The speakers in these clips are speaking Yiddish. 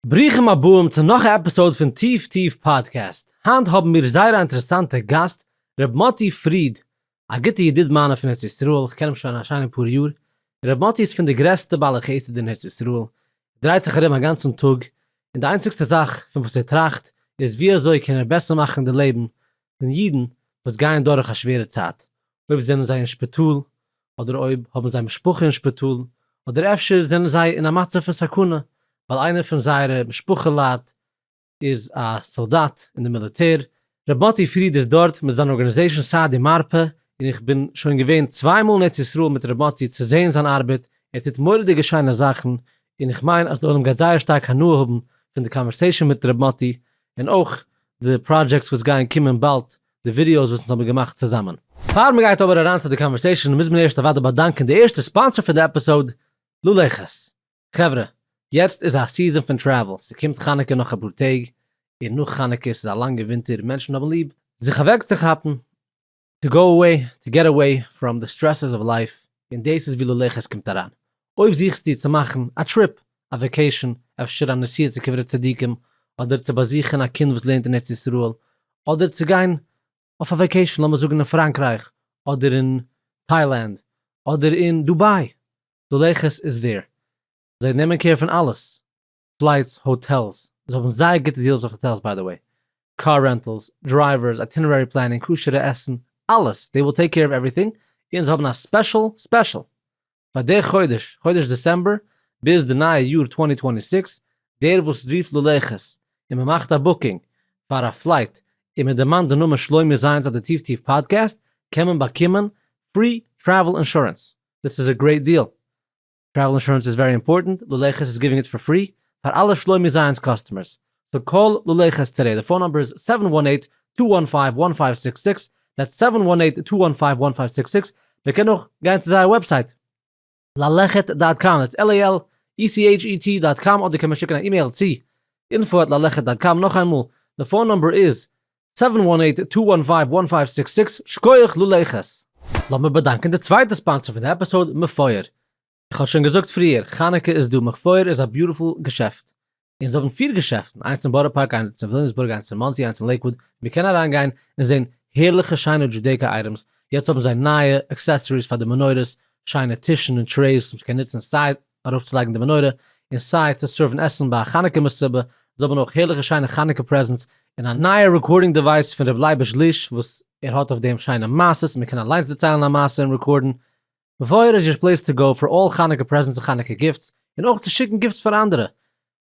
ברוכים הבאים צו נאך א עפיסאוד פון טיף טיף פאדקעסט, היינט האבן מיר זייער א אינטערעסאנטע גאסט ר' מאטי פריד, א גוטע ידיד מיינע פון ארץ ישראל, כ'קען אים שוין א שיינע פאר יאר, ר' מאטי איז פון די גרעסטע בעלי חסד אין ארץ ישראל, ער דרייט זיך ארום א גאנצן טאג, און די איינציגסטע זאך פון וואס ער טראכט איז ווי אזוי קען ער בעסער מאכן די לעבן פון אידן וואס גייען דורך א שווערע צייט, אויב זענען זיי אין שפיטאל, אדער אויב האבן זיי משפחה אין שפיטאל, אדער אפשר זענען זיי אין א מצב פון סכנה ווייל איינער פון זייערע משפחה לייט איז א סאלדאט אין די מיליטער. ר' מאטי פריד איז דארט מיט זיין ארגאניזעישאן סיי די מרפא, און איך בין שוין געווען צוויי מאל אין ארץ ישראל מיט ר' מאטי צו זעהן זיין ארבעט, ער טוט מורא'דיגע שיינע זאכן, און איך מיין אז די עולם גייט זייער שטארק הנאה האבן פון די קאנווערסעישאן מיט ר' מאטי, און אויך די פראדזשעקטס וואס גייען קומען באלד, די ווידיאוס וואס אונז האבן געמאכט צוזאמען. פאר מען גייט אבער אריין צו די קאנווערסעישאן מוז מען ערשט אוודאי באדאנקען די ערשטע ספאנסער פון די עפיסאוד, לולעכעס. חברה, יעצט איז א סיזאן פון טרעוול, ס'קומט חנוכה נאך אפאר טעג, און נאך חנוכה, ס'איז א לאנגע ווינטער און מענטשן האבן ליב זיך אוועקצוכאפן, טו גאו אוועי, טו געט אוועי פראם די סטרעסס אוו לייף, און דאס איז ווי לולעך עס קומט אריין. אויב זוכסטו צו מאכן א טריפ, א וועקעישאן, אפשר א נסיעה צו קברי צדיקים, אדער צו באזוכן א קינד וואס לערנט אין ארץ ישראל, אדער צו גיין אויף א וועקעישאן לאמיר זאגן אין פראנקרייך, אדער אין טיילענד, אדער אין דובאי, לולעך עס איז דער. זיי נעמען קעיר פון אלעס. פלייטס, האטעלס, זיי האבן זייער גוטע דיעלס אויף האטעלס ביי די וועי, קאר רענטעלס, דרייווערס, אייטינערערי פלענינג, כשר'ע עסן, אלעס, דעי וויל טעיק קעיר אוו עווריטינג, און זיי האבן א ספעשל ספעשל פאר די חודש, חודש דעסעמבער, ביז די נייע יאר צוואַנצן צוואַנציק זעקס, דער וואס רופט ללכת און מען מאכט א בוקינג פאר א פלייט און מען דערמאנט די נאמען שלומי זיינס אדער טיף טיף פאדקעסט קען מען באקומען פרי טרעוול אינשורענס, דאס איז א גרעיט דיעל, טרעוול אינשורענס איז ווערי אימפארטענט, לולא חסד איז גיווינג איט פאר פרי פאר אלע שלומי זיינס קאסטומערס, סאו קאל לולא חסד טודעי, די פאון נאמבער איז סעווען וואן עיט טו וואן פייוו וואן פייוו סיקס סיקס, דעטס סעווען וואן עיט טו וואן פייוו וואן פייוו סיקס סיקס, מען קען אויך גיין צו זייער וועבסייט ללכת דאט קאם, דעטס על איי על אי סי עיטש אי טי דאט קאם, אדער קען מען שיקן א אימעיל צו אינפאו עט ללכת דאט קאם, נאכאיינמאל, די פאון נאמבער איז סעווען וואן עיט טו וואן פייוו וואן פייוו סיקס סיקס, שקויעך לולא איך עס! לאמיר באדאנקען די צווייטע ספאנסער פון די עפיסאוד, מפואר. איך האב שוין געזאגט פריער, חנוכה איז דא, מפואר איז א ביוטיפול געשעפט. און זיי האבן פיר געשעפטן, איינס אין בארא פארק, איינס אין וויליאמסבורג, איינס אין מאנסי, איינס אין לעיקוואוד, מען קען אריין גיין און זען הערליכע שיינע דזשודעיקא אייטעמס, יעצט האבן זיי נייע עקסעסעריס פאר די מנורות, שיינע טישן און טרעיס וואס מען קען נוצן סיי ארויפצולייגן די מנורה, און סיי צו סערוון עסן ביי א חנוכה מסיבה, זיי האבן אויך הערליכע שיינע חנוכה פרעזענטס, און א נייע רעקארדינג דעווייס פון ר' לייבוש ליש וואס ער האט אויף דעם שיינע מעשות, מען קען אליינס דערציילן א מעשה און רעקארדן, וואויער איז יור פלעיס טו גאו פאר אלל חנוכה פרעזענטס און חנוכה גיפטס, און אויך צו שיקן גיפטס פאר אנדערע.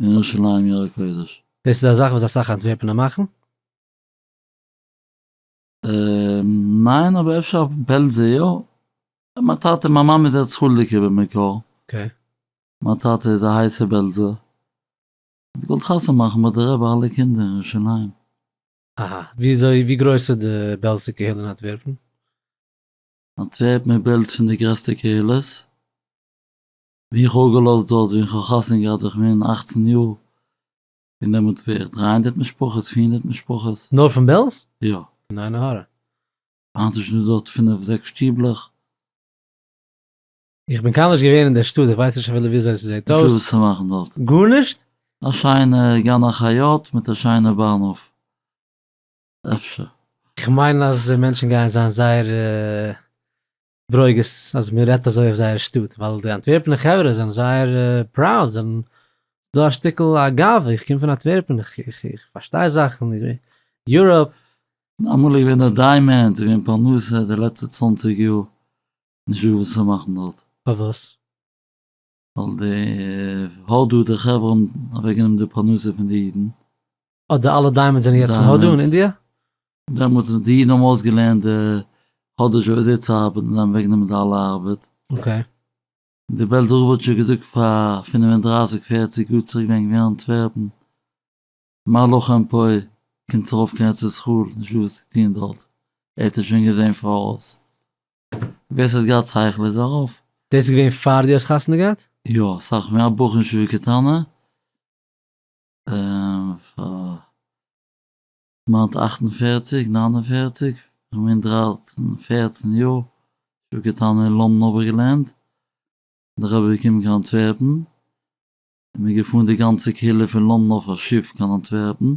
אין ירושלים עיר הקודש. דאס איז א זאך וואס אסאך אנטווערפענער מאכן? ניין אבער אפשר אויף בעלזע יא, מיין טאטע מיין מאמע איז ארץ חולדיקער במקור, מיין טאטע איז א הייסע בעלזער, האט געוואלט חתונה מאכן ביי די רבי אלע קינדער אין ירושלים. אהא, וויאזוי ווי גרויס איז די בעלזע קהילה אין אנטווערפען? אנטווערפען איז בעלז פון די גרעסטע קהילות. ווי איך האב געלאזט דארט ווי איך האב חתונה געהאט ווען איך בין אכצן יאר, און דעמאלטס בערך דרײַ הונדערט משפחות, פֿיר הונדערט משפחות. נאר פון בעלז? יא. פון עין הרע? היינט איז שוין דא דארט פינף זעקס שטיבלעך. איך בין קיינמאל נישט געווען אין דער שטאט, איך ווייס נישט אפילו וויאזוי עס זעט אויס. נישטא וואס צו מאכן דארט. גארנישט? א שיינע גן החיות מיט א שיינע באנהוף. אפשר. איך מיין אז מענטשן גייען זיין זייער. ברוגז אז מען רעדט אזוי אויף זייער שטאט, ווייל די אנטווערפענע חברה זענען זייער פראוד, זענען דא א שטיקל א גאווה, איך קום פון אנטווערפען, איך פארשטיי זאכן, יוראפ. אמאל איז געווען דארט דיימענד, איז געווען פרנסה די לעצטע צוואנציג יאר, נישט דא וואס צו מאכן דארט. פארוואס? ווייל די הודו די חברה האבן אוועק גענומען די פרנסה פון די אידן. אט די אלע דיימענדס זענען יעצט אין הודו און אינדיע? דעמאלטס ווען די אידן האבן אויסגעלערנט די הודו ש וויאזוי צו ארבעטן זיי האבן אוועק גענומען די אלע ארבעט. אקעי. די בעלזער רב האט שוין געזאגט פאר פינף און דרייסיג פערציג יאר צוריק ווען ער איז געווען אין אנטווערפן. מר לחם פוי קומט ארויף קיין ארץ ישראל נישט דא וואס צו טון דארט ער האט עס שוין געזען פאראויס ווער ס'האט געהאט שכל איז ארויף. דאס איז געווען פאר דו האסט חתונה געהאט? יא, סאך מער א בחור ישיבה קטנה, און פאר כמעט אַכט און פֿערציק, נײַן און פֿערציק, איך מיין דרײַצן, פֿערצן יאר, ישיבה קטנה אין לאנדאן האב איך געלערנט, און איך האב געקומען קיין אנטווערפן, מיר געפארן די גאנצע קהילה פון לאנדן אויף א שיף קיין אנטווערפן.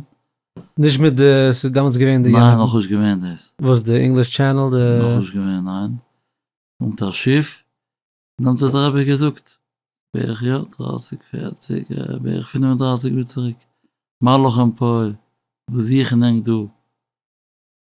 נישט מיט די ס'איז דעמאלטס געווען די יארן. ניין נאכנישט געווען דאס. וואס די אינגליש טשענעל די. נאכנישט געווען ניין. קומט א שיף נעמט האט די רבי געזאגט בערך יא דרייסיג פערציג בערך פינף און דרייסיג יאר צוריק מלאך אין פוי וואס זוכן ענק דא.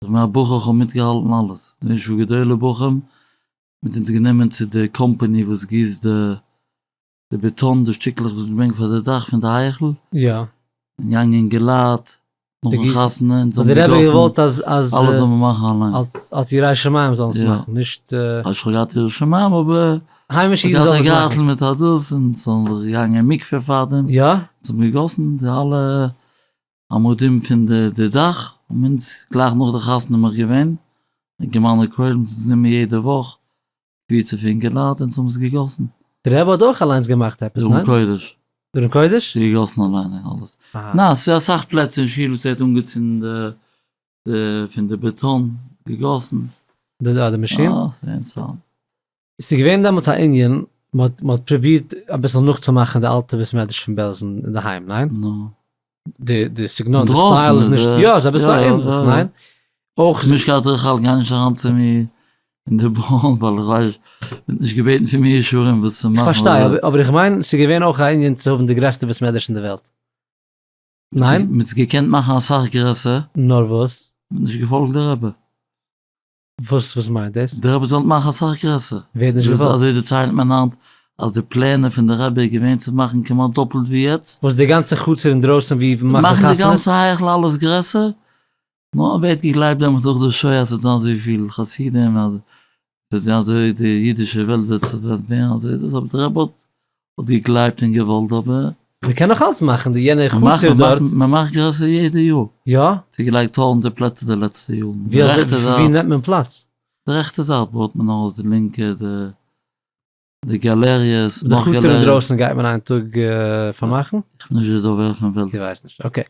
כ'בין א בחור כ'האב מיטגעהאלטן אלעס, די ישוב גדול בוכים מיט אונז גענומען צו די קאמפאני וואס גיסט די בעטאן די שטיקלעך וואס מ'ברענגט פאר די דאך פון די היכל, יא. און געאנגען געלייט נאכן חתונה אונז האבן געגאסן, האט די רבי געוואלט אז אז אלעס זאל מען מאכן אליין, אלס אלס ירא שמים זאלן עס מאכן, נישט. נישט כ'האב געהאט ירא שמים אבער, היימישע אידן זאלן עס מאכן, גארטל מיט א דאס און ס'האבן זיך געגאנגען אין מקווה פארדעם, יא. אונז האבן געגאסן די אלע עמודים פון די דאך האבן אונז גלייך נאך די חתונה מאך געווען געמאלענע קוילן מיט אונז נעמען יעדע וואך קוויטשע פון אינגעלייט אונז האבן עס געגאסן. די רבי האט אויך אליינס געמאכט עפעס, ניין? דרום קודש. דרום קודש? געגאסן אליין און אלעס. אהא. ניין, ס'איז אסאך פלעצער אין שול וואס ער האט אנגעצינדן די די פון די בעטאן געגאסן. די די מאשין? אה, ווען ס'האט. ס'איז געווען דעמאלטס א ענין, מ'האט פרובירט אביסל נאכצומאכן די אלטע בית מדרש פון בעלזן אינדערהיים, ניין? נו. די סגנון, די סטייל איז נישט, יא, איז אביסל א ענדליך, ניין? אויך איז. משקל תרחל גיי נישט אריין צו מיר אין די באן ווייל איך ווייס, ווערט נישט געבעטן פון מיר אישורים וואס צו מאכן. כ'פארשטיי, אבער איך מיין ס'איז געווען אויך א ענין צו האבן די גרעסטע בית מדרש אין די וועלט, ניין? מ'האט עס געקענט מאכן אסאך גרעסער. נאר וואס? מ'האט נישט געפאלגט די רבי. וואס וואס מיינט דאס? די רבי זאל עס מאכן אסאך גרעסער. ווער האט נישט געוואלט? אזוי דערציילט מען היינט אז די פלענער פון די רבי איז געווען צו מאכן כמעט דאפלט ווי יעצט. וואס די גאנצע חצר אינדרויסן ווי מ'מאכט די חתונות? מאכן די גאנצע היכל אלעס גרעסער, נו ווערט געגלייבט דעמאלטס דורך די שוי אז ס'וועט זיין אזוי פיל חסידים, אז ס'וועט ווערן אזוי די אידישע וועלט וועט ווערן אזוי דאס, אבער די רבי האט כ'וואלט געגלייבט און געוואלט אבער. מען קען נאך אלץ מאכן די יענע חצר דארט. מען מאכט גרעסער יעדע יאר. יא? ס'איז געלייגט טויזענטער פלעצער די לעצטע יארן. די רעכטע זייט. ווי נעמט מען פלאץ? די רעכטע זייט בויעט מען אויס, די לינקע, די גאלעריעס, נאך גאלעריעס. די חצר אינדרויסן גייט מען איין טאג פארמאכן? איך בין נישט די דובר פון בעלז. דו ווייסט נישט, אקעי.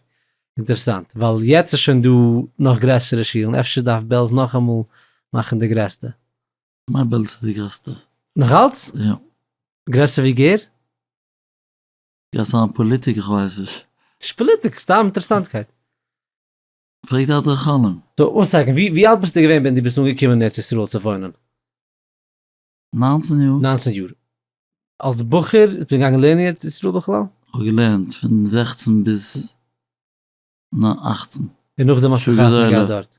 אינטערעסאנט, ווייל יעצט איז שוין דא נאך גרעסערע שולן, אפשר דארף בעלז נאכאמאל מאכן די גרעסטע. מיין בעלז איז די גרעסטע. נאכאלץ? יא. גרעסער ווי גור? גייסט זיין פאליטיק? איך ווייס נישט. נישט פאליטיק, סתם אינטערעסאנטקייט. פרעג די אדרכנים. סאו וואן סעקענד, ווי ווי אלט ביסטו געווען ווען דו ביסט אנגעקומען אין ארץ ישראל צו וואוינען? נײַנצן יאר. נײַנצן יאר. אלס בחור ביסטו געגאנגען לערנען אין ארץ ישראל בכלל? כ'האב געלערנט פון זעכצן ביז אַכצן. און נאכדעם האסטו חתונה געהאט דארט?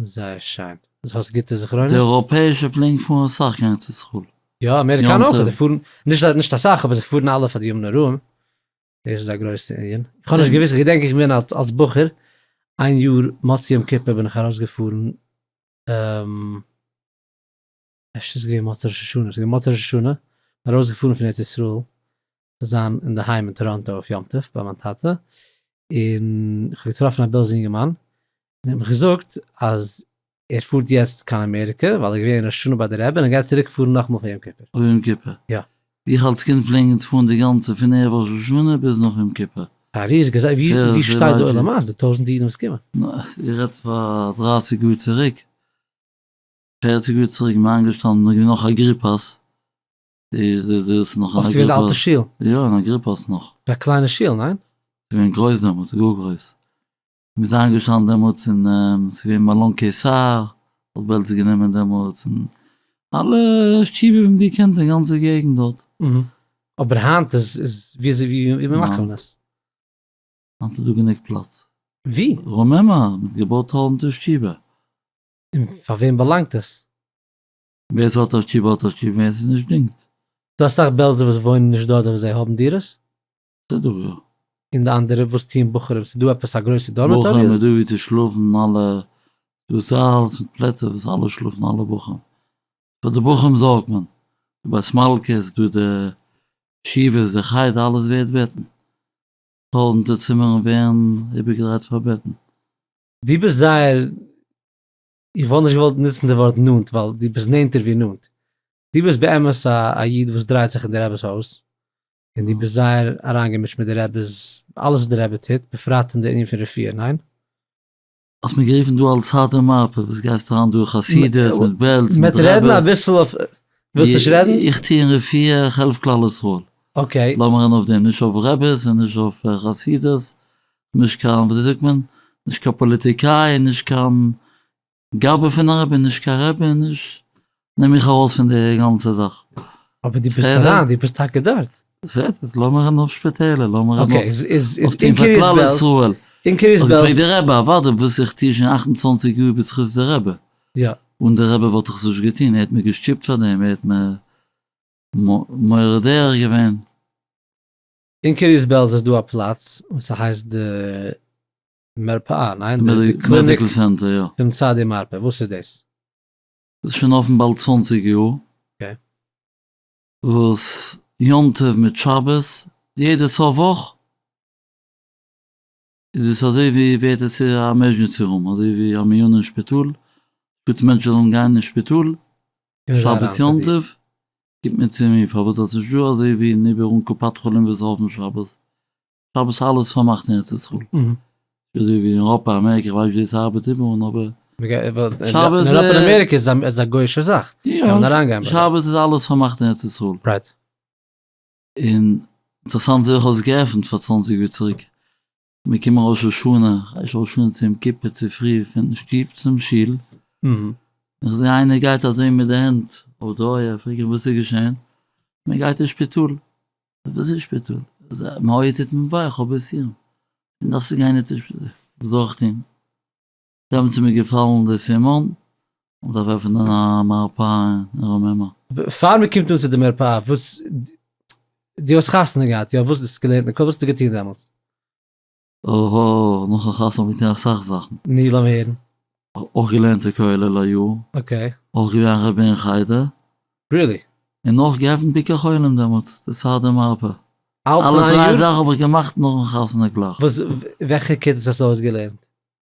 זייער שיין. אז האסט גוטע זכרונות. די אייראפעישע פלינגן פארן אסאך גיין צו סקול. יא אמעריקאנע אויך זיי פארן נישט נישט אסאך אבער זיי פארן אלע פאר די ימים נוראים. דאס איז א גרויסע ענין. איך האב נישט געוויסט איך געדענק איך בין אלס אלס בחור איין יאר מוצ י יום כיפור בין איך ארויסגעפארן. אפשר איז עס געווען מוצאי ראש השנה, עס איז געווען מוצאי ראש השנה, איך בין ארויסגעפארן פון ארץ ישראל צו זיין אינדערהיים אין טאראנטא אויף יום טוב ביי מיין טאטע, און איך האב געטראפן א בעלזע יונגערמאן, און ער האט מיך געזאגט אז ער פארט יעצט קיין אמעריקע ווייל ער איז געווען ראש השנה ביי די רעבען און ער גייט צוריק פארן נאכאמאל פאר יום כיפור. פאר יום כיפור? יא. איך אלס קינד פלעגן אונז פארן די גאנצע פון ערב ראש השנה ביז נאך יום כיפור. פאר איר איז געזעהן ווי שטייט די עולם היינט, די טויזענטע אידן וואס קומען. איר רעדט פאר דרייסיג יאר צוריק. פערציג יאר צוריק איז מען איינגעשטאנען נאר געווען נאך אגריפאס, דאס נאך אגריפאס, ס'געווען די אלטע שול, יא אין אגריפאס נאך, א קליינע שול ניין? ס'געווען גרויס דעמאלטס גאר גרויס, מען איז איינגעשטאנען דעמאלטס אין ס'געווען מלון קיסר האט בעלזא גענומען דעמאלטס און אלע שטיבער ווי מען האט געקענט אין גאנצע געגענט דארט. אבער היינט איז איז ווי ווי מאכט מען עס? היינט איז דא גענוג פלאץ. ווי? רוממה, מען האט געבויט טויזענטער שטיבער. און פאר וועם באלאנגט עס? ווער עס האט אשכול באלט אשכול און ווער עס איז נישט דינגט. דא אסאך בעלזע וואס וואוינען נישט דארט אבער זיי האבן דירות. די דא יא. און די אנדערע וואס טוען בחורים ס'איז דא עפעס א גרויסע דארמעטארי? בחורים איז דא ווי צו שלאפן אלע דא ס'אלעס מיט פלעצער וואס אלע שלאפן אלע בחורים פאר די בחורים זארגט מען דא ביי סמאלקעס דא די ישיבות די חדר אלעס ווערט בעטן טויזענטער צימערן ווערן איבערגעדרייט פאר בעטן דו ביסט זייער, איך וואלט נישט געוואלט נוצן די ווארט נאנט, ווייל דו ביסט נענטער ווי נאנט. דו ביסט באמת א איד וואס דרייט זיך אין די רעבעס הויז, און דו ביסט זייער אריינגעמישט מיט די רעבעס, אלעס וואס די רעבע טוט, בפרט אין די ענין פון רפואה, ניין? האסט מיר גערופן דא אלס הארטער מרפא, וואס גייסט אריין דא אין חסידות, מיט בעלז, מיט רעבעס. מ'עט רעדן אביסל אויף, ווילסט נישט רעדן? איך טוה אין רפואה, איך העלף כלל ישראל. אקעי. לאמיר רעדן אויף דעם, נישט אויף רעבעס און נישט אויף חסידות, נישט קיין וויאזוי זאגט מען, נישט קיין פאליטיקאי, נישט קיין גאבע פון א רבי, נישט קיין רבי, נישט, נעם מיך ארויס פון די גאנצע זאך. אבער דו ביסט אריין, דו ביסט טאקע דארט. בסדר, לאמיר רעדן אויף שפיטעלער, לאמיר רעדן אויף טון פאר כלל ישראל. און קרית בעלז? האט געפרעגט דער רבי, אוודאי, וואס איך טו שוין אַכט און צוואַנציק יאר בזכות דער רבי. יא. אן דער רבי וואלט איך עס נישט געטון, ער האט מיר געשטופט פאר דעם, ער האט מיר מורה דרך געווען. אין קרית בעלז איז דא א פלאץ וואס ס'הייסט די מרפאה, ניין? די קליניק פון צדי מרפא, וואס איז דאס? דאס איז שוין אפן באלד צוואנציג יאר. אקעי. וואס יום טוב מיט שבת, יעדע סוף וואך, איז עס אזוי ווי ווערט עס א עמערזשענסי רום אזוי ווי א מיון אין שפיטאל גוט מענטשן זאלן גיין אין שפיטאל שבת יום טוב גיט מיר צו מיר פארוואס זאלסט נישט דא אזוי ווי אין איבער אן קופת חולים וואס אויפן שבת שבת אלעס פארמאכט אין ארץ ישראל אזוי ווי אין אייראפע אמעריקע איך ווייס ווי דאס ארבעט איבער און אבער שבת איז אין אמעריקע איז א גוישע זאך יא שבת איז אלעס פארמאכט אין ארץ ישראל. און אינטערעסאנט זיך האט עס געעפנט פאר צוואנציג יאר צוריק, מיר קומען ראש השנה, ראש השנה צו יום כיפור צופרי פון שטוב צום שול, און איך זעה איינער גייט אזוי מיט די הענט אויף די אויער, פרעג איך וואס איז געשען, מען גייט אין שפיטאל, וואס איז שפיטאל? מיין אויער טוט מיר וויי, איך האב ביז סירם, איך דארף צו גיין אין שפיטאל, וואס זאל איך טון? דעמאלט איז מיר געפאלן דער סימן, מען דארף עפענען א מרפאה אין רוממה. פאר מען קומט אן צו די מרפאה, וואס, דו האסט חתונה געהאט, יא? וואס האסטו געלערנט אין כולל? וואס האסטו געטון דעמאלטס? אהא, נאכן חתונה האב איך געטון אסאך זאכן. נו, לאמיר הערן. אויך געלערנט אין כולל א יאר. אקעי. אויך געווען א רבי אין חדר. ריעלי? און אויך געעפנט ביקור חולים דעמאלטס, די סארדער מרפאה. אלעס אין איין יאר? אלע דריי זאכן האב איך געמאכט נאכן חתונה גלייך. וואס, וועלכע כיתות האסטו אויסגעלערנט?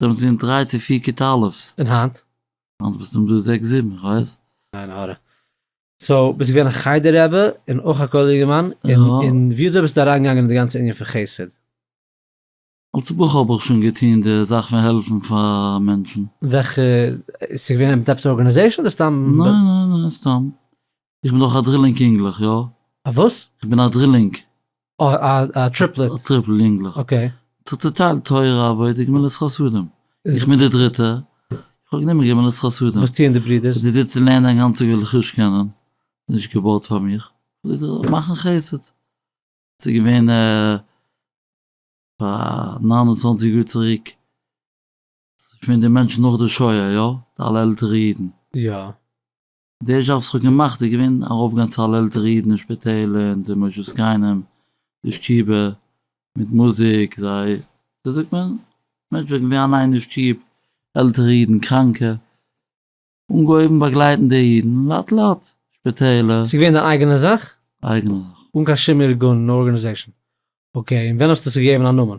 זענען צו אין דריי צו פיר כיתה'לעווס. און היינט? היינט ביסטו אין דא זעקס זיבן, איך ווייס. עין הרע. סאו ביסט געווען א חדר רבי און אויך א כולל יונגערמאן, און ווי אזוי ביסטו אריין געגאנגען אין די גאנצע ענין פון חסד? אלס בחור האב איך שוין געטון די זאך פון העלפן פאר מענטשן. וועלכע, ס'געווען מיט עפעס ארגאניזעישן אדער סתם? ניין ניין ניין סתם. איך בין אויך א דרילינג יונגלעך, יא. א וואס? איך בין א דרילינג. אה, א טריפלעט. א טריפל יונגלעך. אקעי. איך האב צוטיילט תורה, עבודה, גמילות חסדים. איך בין דער דריטער. איך האב גענומען גמילות חסדים. וואס טוען די ברידערס? זיי זיצן לערנען א גאנצע טאג וועל איך נישט קענען. נישט געבויט פאר מיך. מאכן חסד. ס'איז געווען פאר נײַן און צוואַנציק יאר צוריק. ס'איז געווען די מענטשן נאך די שואה, יא? די אלע עלטערע אידן. יא. דער זשאב וואס איך האב געמאכט איז געווען ארויפגיין צו אלל עלטערע אידן אין שפיטעלער און די משה זקנים די שטובער מיט מוזיק זיי ווי זאגט מען מענטשן וועלכע גייען אליין אין שטוב עלטערע אידן קראנקע אנגעהויבן באגלייטן די אידן לאט לאט שפיטעלער. ס'איז געווען דיין אייגענע זאך? אייגענע זאך. אן קיין שום ארגון און ארגענעזעישאן? אקעי און ווען האסטו עס געגעבן א נאמען?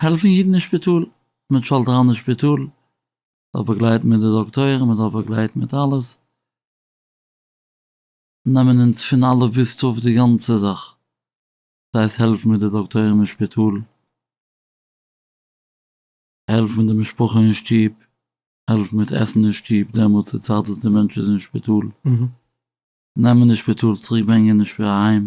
העלפן אידן אין שפיטאל, מען טשאלט אריין אין שפיטאל, מען דארף באגלייטן מיט די דאקטוירים, מען דארף באגלייטן מיט אלעס, נעמען אונז פון א' ביז ת' די גאנצע זאך, דאס הייסט העלפן מיט די דאקטוירים אין שפיטאל, העלפן מיט די משפחה אין שטוב, העלפן מיט עסן אין שטוב, דעמאלטס די צייט וואס די מענטש איז אין שפיטאל, נעמען אין שפיטאל, צוריק ברענגען אהיים,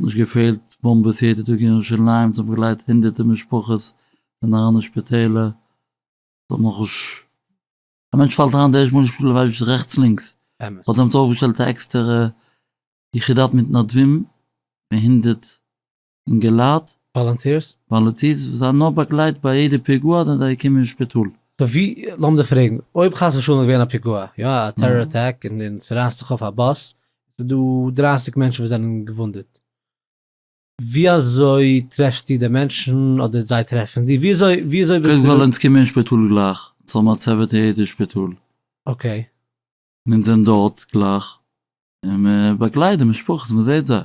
נישט געפעלט באמבעס יעדע טאג אין ירושלים, זיי האבן געלייגט הונדערטער משפחות אין אריינע שפיטעלער, זיי האבן נאכנישט, א מענטש פאלט אריין די ערשטע מאל אין שפיטאל ווייסט נישט רעכטס לינקס, אמת. האט עמיצער אויפגעשטעלט א עקסטערע יחידת מתנדבים פון הונדערט אינגעלייט, וואלונטירס? וואלונטירס וואס זיי האבן נאר באגלייט ביי יעדע פיגוע זענען זיי געקומען אין שפיטאל. סאו ווי, לאמיר דיך פרעגן, אויב חס ושלום איז געווען א פיגוע, יא א טעראר אטאק און ס'רייסט זיך אויף א באס, עס איז דא דרײַסיק מענטשן וואס זענען געוואונדעט, ווי אזוי טרעפסטו די מענטשן אדער זיי טרעפן דיר? ווי אזוי ווי אזוי ביסטו? קודם כל אונז קומען אין שפיטאל גלייך, אונז האבן א צוות אין יעדע שפיטאל, אקעי. און אונז זענען דארט גלייך, און מען באגלייט די משפחות, מען זעט זיי,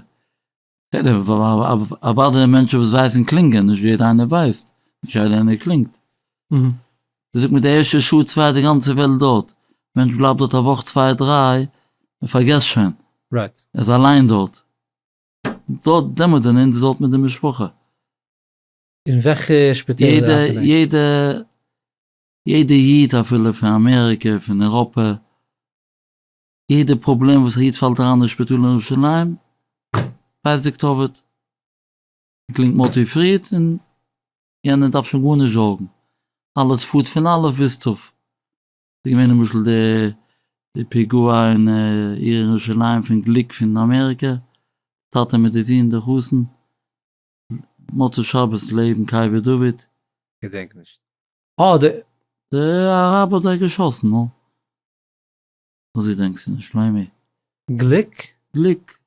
אוודאי די מענטשן וואס ווייסן קלינגען, נישט יעדער איינער ווייסט, נישט יעדער איינער קלינגט. מ'זאגט מיט די ערשטע שעה צוויי די גאנצע וועלט דארט, מענטש בלייבט דארט א וואך צוויי דריי און פארגעסט שוין, ער איז אליין דארט, דארט דעמאלט זענען אונז דארט מיט די משפחה. אין וועלכע שפיטעלער ארבייט איר? יעדע יעדע איד אפילו פון אמעריקע פון אירופה. יעדע פראבלעם וואס א איד פאלט אריין אין שפיטאל אין ירושלים, ווייסט די כתובת, מען קלינגט מאטי פריד און יענער דארף שוין גארנישט זארגן, אלעס פארט פון א' ביז ת'. ס'איז געווען למשל די פיגוע אין עיר ירושלים פון גליק פון אמעריקע, טאטע מיט די זון די חתן, מוצאי שבת לעבן קבר דוד. געדענק נישט. אה די. די אראבער האט זיי געשאסן, נו. וואס געדענקסט פון שלומי? גליק? גליק.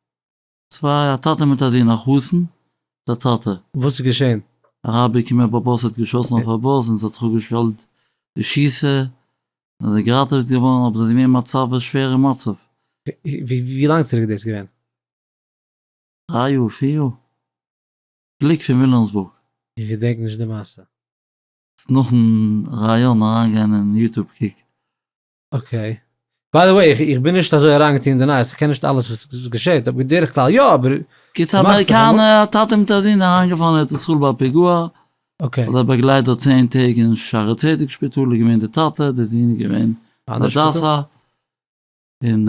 צוויי, א טאטע מיט א זון, א חתן מיט א טאטע. וואס איז געשען? א רבי קומט אויף א באס האט געשאסן אויף א באס און ס'האט זיך אפגעשטעלט די שיסע און זיי זענען געראטעוועט געווארן אבער ס'איז געווען מצב א שווערע מצב. ווי לאנג צוריק איז דאס געווען? דריי יאר? פיר יאר? גליק פון וויליאמסבורג. איך געדענק נישט די מעשה. נאכן ראיאן אריינגיין אין יוטוב קוק אקעי. ביי דע וועי, איך בין נישט אזוי אריינגעטון אין די נייעס, איך קען נישט אלעס וואס געשעט, אבער בדרך כלל יא, אבער. קיצור א אמעריקאנע טאטע מיט א זון אריינגעפאלן ארץ ישראל ביי א פיגוע, אקעי. זיי באגלייט דארט צען טעג אין שערי צדק שפיטאל איז געווען די טאטע, די זון איז געווען אין הדסה, און.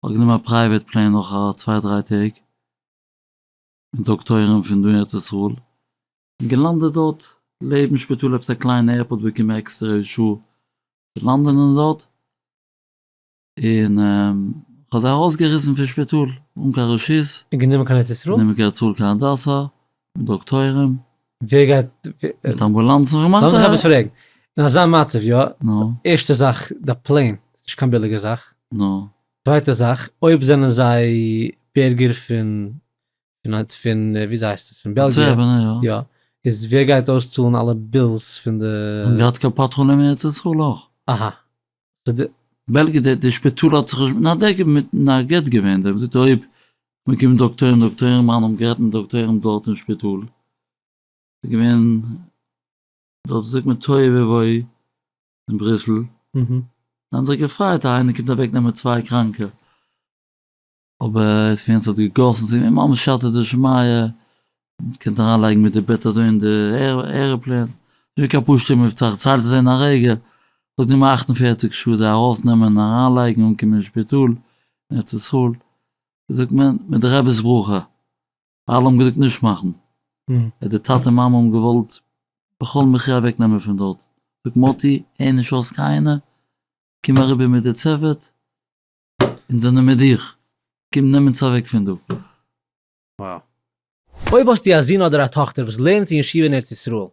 כ'האב גענומען א פרייוועט פלען נאך א צוויי דריי טעג און טאג טויערן פון דא ארץ ישראל און געלאנדעט דארט לעבן שפיטאל עפעס א קליינע עירפארט באקומען עקסטערע אישור צו לאנדען אין דארט און כ'האב זיי ארויסגעריסן פון שפיטאל אן קיין רשות. און גענומען קיין ארץ ישראל? גענומען קיין ארץ ישראל קיין הדסה דאקטוירים? ווער גייט? מיט אמבולאנסן ווער מאכט די? לאמיך עפעס פרעגן, אין אזא מצב יא? נו? ערשטע זאך, די פלען איז נישט קיין ביליגע זאך. נו? צווייטע זאך, אויב זענען זיי בירגער פון, פון ווי אזוי הייסט עס? פון בעלגיע. אנטווערפען, יא. יא. איז ווער גייט אויסצאלן אלע בילס פון די. האט געהאט קופת חולים ארץ ישראל אויך. אהא. זאגט די בעלגיע די די שפיטאל האט זיך נישט מתנדב געווען מיט מיט א גט געווען זיי האבן געזאגט אויב מען קומט דאקטוירים דאקטוירים מיין האבן גערעדט מיט דאקטוירים דארט אין שפיטאל ס'איז געווען דארט זאגט מען תוהו ובוהו אין בריסל זיי האבן זיך געפריידט אז איינער קומט אוועק נעמען צוויי קראנקע. אבער עס איז ווי עס האט געגאסן זיך ווי ממש שאטער די שמיה, מען קען אריין לייגן מיט די בעט אזוי אין די ערעפלעין, נישט קיין פשוטע מבצע, איך צייל עס אין א רגע, ס'האט גענומען אַכט און פֿערציק שעה זיי ארויס נעמען אריין לייגן אנקומען אין שפיטאל אין ארץ ישראל, ווי זאגט מען, מיט די רב'ס ברכה, אלע האבן געזאגט נישט מאכן, און די טאטע מאמע האבן געוואלט בכל מחיה אוועק נעמען פון דארט, זאגט מאטי הער נישט אויס קיינער, קום אריבער מיט די צוות, אונז זענען מיט דיך. קום נעם אונז אוועק פון דא. Wow. אויב האסטו א זון אדער א טאכטער וואס לערנט אין ישיבה אין ארץ ישראל,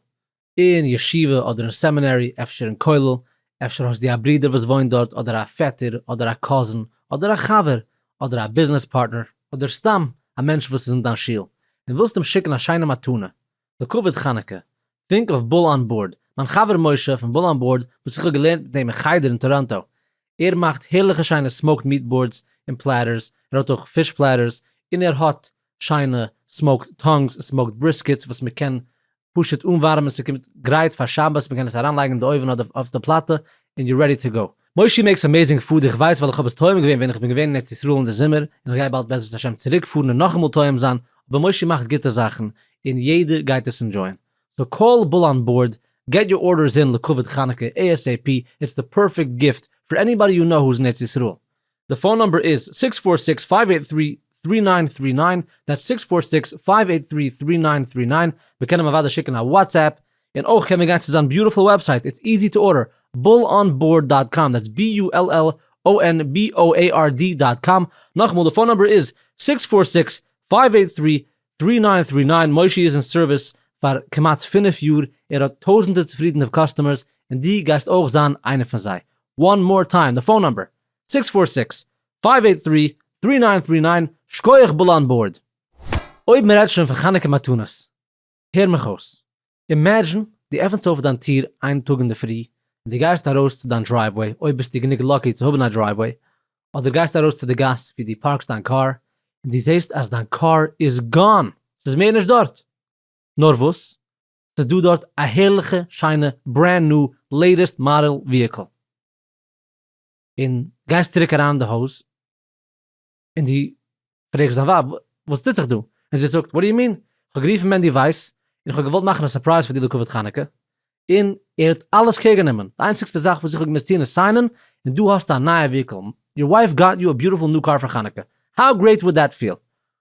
אין ישיבה אדער אין סעמינערי, אפשר אין כולל, אפשר האסטו א ברודער וואס וואוינט דארט אדער א פעטער אדער א קאזין אדער א חבר אדער א ביזנעס פארטנער אדער סתם א מענטש וואס איז אין דיין שול און ווילסט אים שיקן א שיינע מתנה, לכבוד חנוכה, טרינק אויף בול אן בארד, מיין חבר משה פון בול אן בארד וואס איך האב געלערנט מיט אים אין חדר אין טאראנטא, ער מאכט הערליכע שיינע סמאוקד מיעט בארדס און פלעטערס, ער האט אויך פיש פלעטערס, און ער האט שיינע סמאוקד טאנגס און סמאוקד בריסקעטס וואס מען קען פשוט אנווארעמען ס'קומט גרייט פאר שבת מען קען עס אריינלייגן אין די אויווען אדער אויף די פלאטע און יו רעדי טו גאו. מושי מעקס אמעזינג פוד איך ווייס ווייל איך האב עס טועם געווען ווען איך בין געווען אין ארץ ישראל אין די זומער און איך גיי באלד בעזרת השם צוריק פארן און נאכאמאל טועם זיין אבער מושי מאכט גוטע זאכן און יעדער גייט עס אינדשויען סאו קאל בול אן בארד געט יור ארדערס אין לכבוד חנוכה ASAP איטס די פערפעקט גיפט פאר עניבאדי יו נאו הוז אין ארץ ישראל די פאון נומבער איז זיקס פֿיר זיקס פֿינף אַכט דרײַ דרײַ נײַן דרײַ נײַן, דעטס זיקס פֿיר זיקס פֿינף אַכט דרײַ דרײַ נײַן דרײַ נײַן, מען קען אים אוודאי שיקן א וואטסעפפ, און אויך קען מען גיין צו זיין ביוטיפול וועבסייט, איטס איזי טו ארדער, bullonboard דאט קאם, דעטס בי יו על על או ען בי או עי אר די דאט קאם, נאכאמאל די פאון נומבער איז זיק ס פֿיר זיק ס פֿינף אַכט דרײַ דרײַ נײַן דרײַ נײַן, מושי איז אין סערוויס פאר כמעט פֿינף יאר, ער האט טויזענטער צופרידענע קאסטומערס, און די גייסט אויך זיין איינער פון זיי, וואן מאר טיים די פאון נומבער איז. סיקס פאר סיקס פייוו עיט טרי טרי ניין טרי ניין שקויעך בול אן בארד. אויב מען רעדט שוין פון חנוכה מתנות, הער מיך אויס. אימעדזשין דו עפענסט אויף דיין טיר איין טאג אינדערפרי און דו גייסט ארויס צו דיין דרייוועי, אויב ביסטו גענוג לאקי צו האבן א דרייוועי, אדער גייסט ארויס צו די גאס ווי דו פארקסט דיין קאר, און דו זעסט אז דיין קאר איז גאן! ס'איז מער נישט דארט! נאר וואס? ס'איז דא דארט א הערליכע שיינע ברענד ניו לעיטעסט מאדעל וויהיקל! און גייסט צוריק אריין אין די הויז, און דו פרעגסט דיין ווייב וואס טוט זיך דא, און זי זאגט, וואט דו יו מין? כ'האב גערופן מענדי ווייס, און כ'האב געוואלט מאכן א סורפרייז פאר דיר לכבוד חנוכה, און ער האט אלעס קעיר גענומען, די איינציגסטע זאך וואס איך האב געמוזט טון איז סיינען, און דא האסטו א נייע וויהיקל, יור ווייף גאט יו א ביוטיפול ניו קאר פאר חנוכה, האו גרעיט וואלד דעט פיל?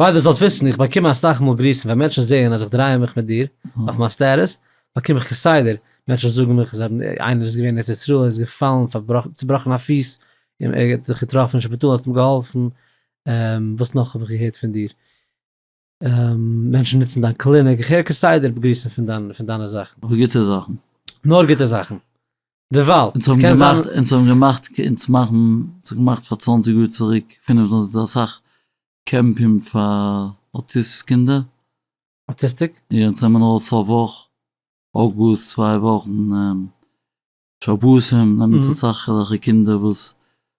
ווייל דו זאלסט וויסן, איך באקום אסאך מאל גריסן ווען מענטשן זעען אז איך דריי מיך מיט דיר אויף מיין סטעטוס, באקום איך כסדר, מענטשן זאגן מיך זיי האבן, איינער איז געווען אין ארץ ישראל איז געפאלן פארבראכן צובראכן א פיס, און ער האט זיך געטראפן אין שפיטאל האסט אים געהאלפן, וואס נאך האב איך געהערט פון דיר? מענטשן נוצן דיין קליניק, איך הער כסדר גריסן פון דיין פון דיינע זאכן. אבער גוטע זאכן. נאר גוטע זאכן. דערווייל. אונז האבן געמאכט, אונז האבן געמאכט, אונז מאכן, אונז האבן געמאכט פאר צוואנציג יאר צוריק, פינף, אסאך קעמפים פאר אוטיסט קינדער. אוטיסטיק? יא, אונז נעמען אויך סוף וואך, אוגוסט, צוויי וואכן, שבתים, נעמען אונז אסאך אזעלכע קינדער וואס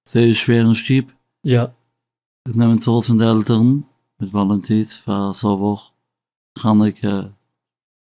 זייער איז שווער אין שטוב. יא. איז נעמען אונז ארויס פון די עלטערן מיט וואלונטירס פאר א סוף וואך, חנוכה,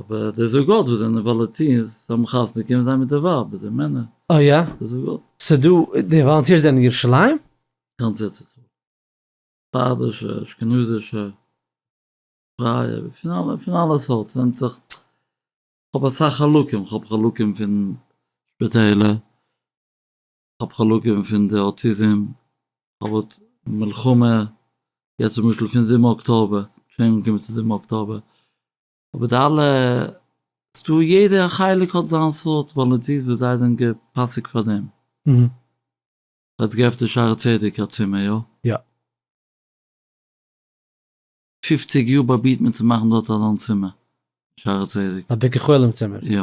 אבער די זוגות וואס זענען וואלעטירס זיי האבן חתונה קומען זיי מיט די ווייבער די מענער אה יא? די זוגות. סאו דא די וואלענטירס זענען ירושלים? גאנץ ארץ ישראל. ספרדישע, אשכנזישע, פרייע, פון אלע פון אלע סארט ס'ווענדט זיך, כ'האב אסאך חלקים, כ'האב חלקים פון שפיטעלער. כ'האב חלקים פון די אוטיזים, כ'האב האט מלחמה, יעצט למשל פון זיבן אקטאבער, שוין אנגעקומען צו זיבן אקטאבער, אבער די אלע, ס'דא יעדע חלק האט זיין סארט וואלונטירס וואס זיי זענען געפאסיגט פאר דעם. כ'האב יעצט געעפנט אין שערי צדק א צימער, יא? יא. פופציג יאר באבירט מען צו מאכן דארט אזאן צימער, שערי צדק. א ביקור חולים צימער? יא.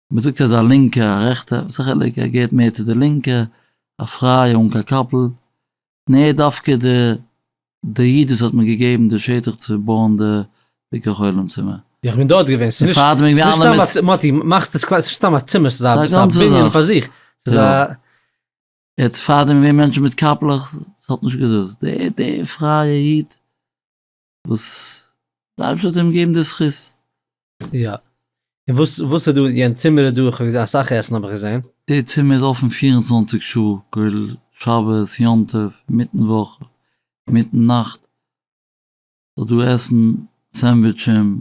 מען זאגט אז א לינקע א רעכטע וואס א חילוק ער געהערט מער צו די לינקע א פרייע אן קיין קאפל און ער איז דווקא די די איד וואס האט מיר געגעבן די שטח צו בויען די ביקור חולים צימער. איך בין דארט געווען ס'איז נישט סתם א מאטי מאכסט עס קליין ס'איז נישט סתם א צימער ס'איז א בנין פאר זיך ס'איז א. יעצט פארדעם געווען מענטשן מיט קאפלעך ס'האט נישט געדאס די די פרייע איד. וואס די אייבערשטער האט אים געגעבן די זכות. יא. און וואס וואס איז דא אין יענע צימער איז דא איך האב געזעהן אסאך עסן האב איך געזעהן. די צימער איז אפען פֿיר און צוואַנציק שעה כולל שבת יום טוב מיטן וואך מיטן נאכט סאיז דא עסן סענדוויטשען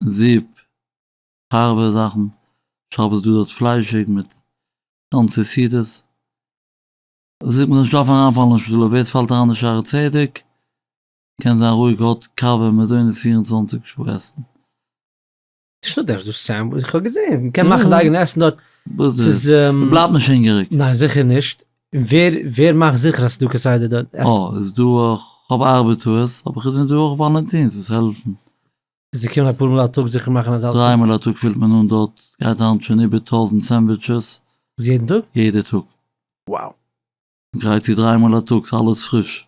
זופ הארבע זאכן שבת איז דא דארט פליישיג מיט גאנצע סעודות זאגט מען אז נישט דארף אריינפאלן אין שפיטאל אויב עטס פאלט אריין אין שערי צדק קען זיין רואיג האט קאווע מזונות פֿיר און צוואַנציק שעה עסן. נישטא דארפסט דאס צו זיין, איך האב געזעהן מ'קען מאכן די אייגענע עסן דארט, ס'איז. מ'בלייבט נישט הונגעריג. ניין זיכער נישט, און ווער ווער מאכט זיכער אז ס'דא כסדר דארט עסן? אה איז דא אויך, כ'האב ארבעטארס, אבער כ'זע דא אויך וואלענטינס וואס העלפן. זיי קומען אפאר מאל א טאג זיכער מאכן אז אלעס. דריי מאל א טאג פילט מען אן דארט, סגייט היינט שוין איבער טויזענט סענדוויטשעס. וואס יעדן טאג? יעדע טאג. וואו. גרייט צו דריי מאל א טאג, אלעס פריש.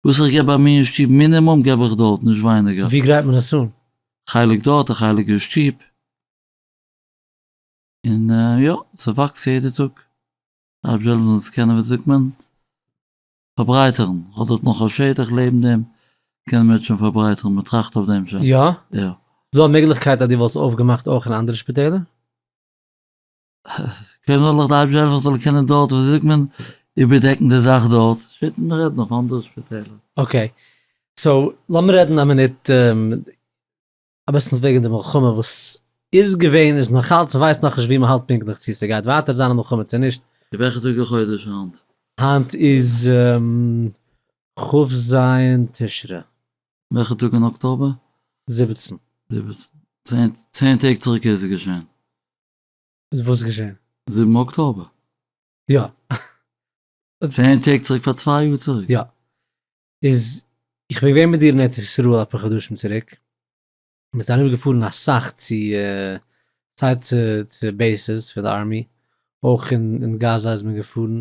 וואס איך געב ביי מיר אין שטוב מינימום געב איך דארט, נישט ווייניגער. ווי גרייט מען עס אן? א חלק דארט, א חלק אין שטוב. און יא, ס'וואקסט יעדע טאג. רבי זשע לאמיר עס קענען ווי זאגט מען? פארברייטערן. איך האב דארט נאך א שטח לעבן דעם, קען מען עס שוין פארברייטערן, מען טראכט אויף דעם שוין. יא? יא. איז דא א מעגליכקייט אז דו וואלסט אויפגעמאכט אויך אין אנדערע שפיטעלער? קענען דארט אייביג זיין זאל קענען דארט ווי זאגט מען איבערדעקן די זאך דארט שפעטער מען רעדט נאך אנדערע שפיטעלער. אקעי סאו לאמיר רעדן א מינוט אביסל וועגן די מלחמה וואס איז געווען איז נאכאלץ מען ווייסט נאכנישט ווי מען האלט פונקטליך צו ס'גייט ווייטער זיין א מלחמה צו נישט. צו וועלכע טאג אין חודש היינט? היינט איז כ' ז' תשרי. וועלכע טאג אין אקטאבער? זיבעצן. זיבעצן, צען טעג צוריק איז עס געשען. איז וואס געשען? זיבן אקטאבער. יא. צען טעג צוריק פאר צוויי יאר צוריק. יא. איז איך בין געווען מיט דיר אין ארץ ישראל אפאר חדשים צוריק. מיר זענען אריבער געפארן אסאך צו סיי צו צו בעיסעס פון די ארמי, אויך אין אין גאזא איז מען געפארן,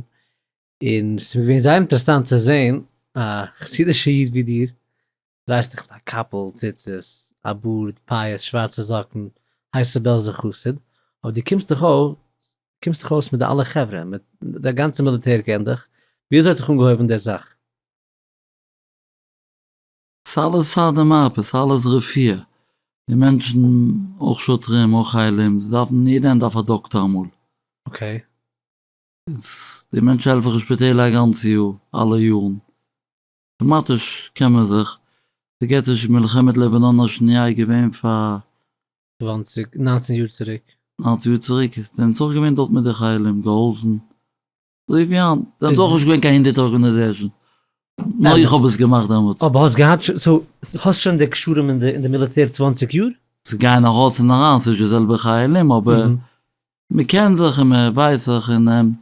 און ס'איז מיר געווען זייער אינטערעסאנט צו זען א חסידישע איד ווי דיר דרייסט דיך מיט א קאפל, ציצית, א בארד, פאות, שווארצע זאקן, הייסע בעלזער חסיד, אבער דו קומסט דאך אויס, קומסט דאך אויס מיט די אלע חברה, מיט די גאנצע מיליטער קען דיך, ווי אזוי האט זיך אנגעהויבן דער זאך? ס'אלעס סדר מרפא, ס'אלעס רפואה, די מענטשן, אויך שוטרים, אויך חיילים, זיי דארפן, יעדע איינער דארף א דאקטער אמאל. אקעי. איז די מענטשן העלפן זיך אין שפיטעלער א גאנץ יאר, אלע יארן. טעמאטיש קען מען זיך פארגעטיש מלחמת לבנון השניה איז געווען פאר. צוואנציג, ניינצן יאר צוריק. ניינצן יאר צוריק, זיי האבן עס אויך געווען דארט מיט די חיילים, געהאלפן, אזוי ווי היינט, דאן איז אויך נישט געווען קיין הונדערט ארגענעזעשן, נאר איך האב עס געמאכט דעמאלטס. אבער האסט געהאט שוין, סאו האסט שוין די קשרים אין די אין די מיליטער צוואנציג יאר? ס'איז גייען ארויס און אריין, ס'נישט די זעלבע חיילים, אבער מ'קען זיך און מ'ווייסט זיך און.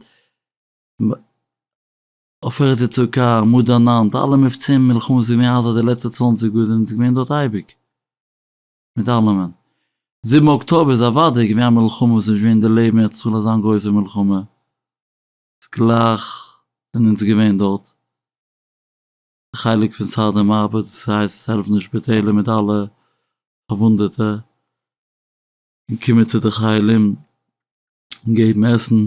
עופרת יצוקה, מאדערן נאנט, אלע מבצעים מלחמות ווי מאז אז די לעצטע צוואנציג יאר זענען זיי געווען דארט אייביג מיט אלעמען. זיבן אקטאבער איז אוודאי געווען א מלחמה וואס איז נישט געווען אין די לעבן ער צאל אזאן גרויסע מלחמה איז גלייך זענען אונז געווען דארט די חלק פון סאדע מארבע דאס הייסט העלפן די שפיטעלער מיט אלע פארוואונדעטע און קומען צו די חיילים און געבן עסן.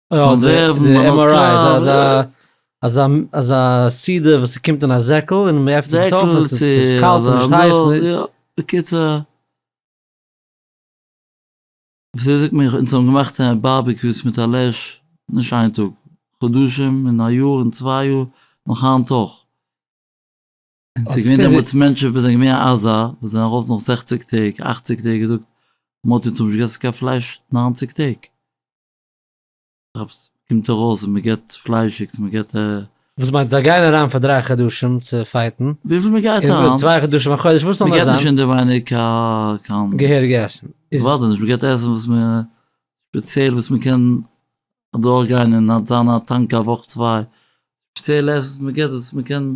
אזא סידער וואס ס'קומט אין א זעקל און מען עפנט עס אויף עס איז קאלט און נישט הייס, בקיצור, וויאזוי זאגט מען אונז האבן געמאכט בארבעקיוס מיט א לעש, נישט איין טאג, חדשים און א יאר און צוויי יאר, נאך היינט אויך, און ס'איז געווען דעמאלטס מענטשן וואס זענען געווען עזה וואס זענען ארויס נאך זעכציג טעג אכציג טעג און געזאגט, מוטי אונז האבן נישט געגעסן קיין פלייש נײַנציק טעג. אויב ס'קומט ארויס אז מ'געט פליישיגס מ'געט ע. וואס מיינט זיי גייען אריין פאר דריי חדשים צו פייטן? וויפיל מען גייט אריין. צוויי חדשים א חודש וואס זאל נאך זיין? מ'געט נישט אינדערווייניג קיין קיין. געהעריג עסן איז. ווארט נישט מ'געט עסן וואס מ' ספעציעל וואס מ'קען אדורך גיין און זיין א טאנק א וואך צוויי ספעציעל עסן וואס מ'געט וואס מ'קען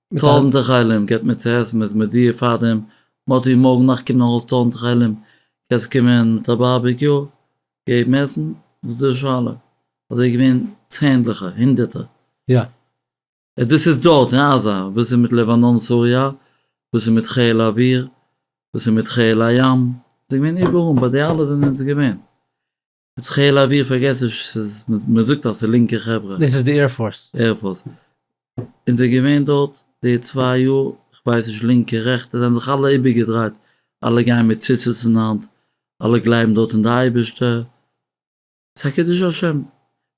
מיט טויזענטער חיילים געבט מען צו עסן מ'איז מודיע פאר דעם מ'האט איר מארגן נאכט קומט נאך אלס טויזענטער חיילים קענסט קומען מיט א בארביקיו און געבן עסן וואס איז דא די שאלה אזוי איז געווען צענדליכער הונדערטער יא. און דאס איז דארט אין עזה וואס איז מיט לבנון סוריא וואס איז מיט חיל האוויר וואס איז מיט חיל הים ס'איז געווען איבעראל ביי די אלע זענען זיי געווען האט חיל האוויר פארגעסן ס'איז מ'זאגט אז ס'איז לינקע חברה. דאס איז די עיר פארס. עיר פארס. אונז איז געווען דארט די צוויי יאר, איך ווייס נישט לינקע רעכטע, זיי האבן זיך אלע איבערגעדרייט, אלע גייען מיט ציצית אין האנט, אלע גלייבן דארט אין די אייבערשטער, ס'איז א קידוש השם,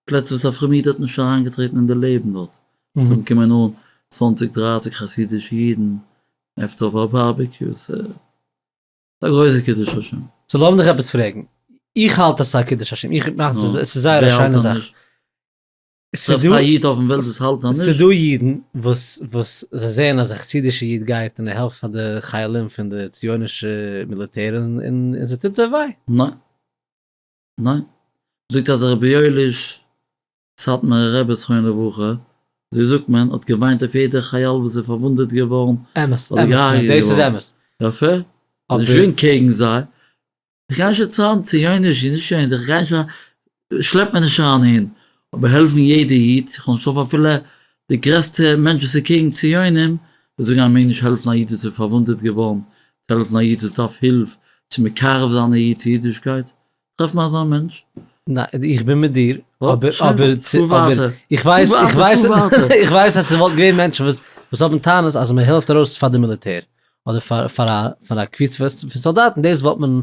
פלעצער וואס א פרומער איד האט נישט אריינגעטרעטן אין די לעבן דארט, דארט אונטן קומען אן צוואנציג דרייסיג חסידישע אידן, עפטער אויף א בארביקיו, ס'איז. ס'איז א גרויסע קידוש השם. סאו לאמיר דיך עפעס פרעגן, איך האלט אז ס'איז א קידוש השם, איך מיין אז עס איז זייער א שיינע זאך. טרעפסט א איד אויפן וועלט וואס האלט אנדערש? ס'איז דא אידן וואס וואס זיי זעען אז א חסידישע איד גייט און ער העלפט פאר די חיילים פון די ציונישע מיליטער און ס'טוט זיי וויי. ניין. ניין. מ'זאגט אז רבי יואליש סאטמארע רבי זכרונו לברכה, אזוי זאגט מען, האט געוויינט אויף יעדער חייל וואס איז פארוואונדעט געווארן אמת, אדער אמת, געהארגעט דאס איז געווארן. אמת. יפה. איז אבער. שוין קעגן זיי. איך גיי נישט יעצט אריין ציוניש און נישט ציוניש, איך גיי נישט אריין, שלעפ מיר נישט אריין אהין. אבער העלפן יעדע איד, איך וועל נישט העלפן אפילו די גרעסטע מענטש וואס איז קעגן ציונים, וועט זאגן אז מ'מעג נישט העלפן א איד וואס איז פארוואונדעט געווארן, העלפן א איד וואס דארף הילף, צו מקרב זיין א איד צו אידישקייט, טרעף מיר אזא מענטש. ניין, איך בין מיט דיר, אבער, אבער, אבער, איך ווייס, איך ווייס, איך ווייס אז ס'וואלט געווען מענטשן וואס, וואס האבן טענות אז מ'העלפט ארויס פאר די מיליטער, אדער פאר, פאר א, פאר א קבוצה פון סאלדאטן, דאס וואלט מען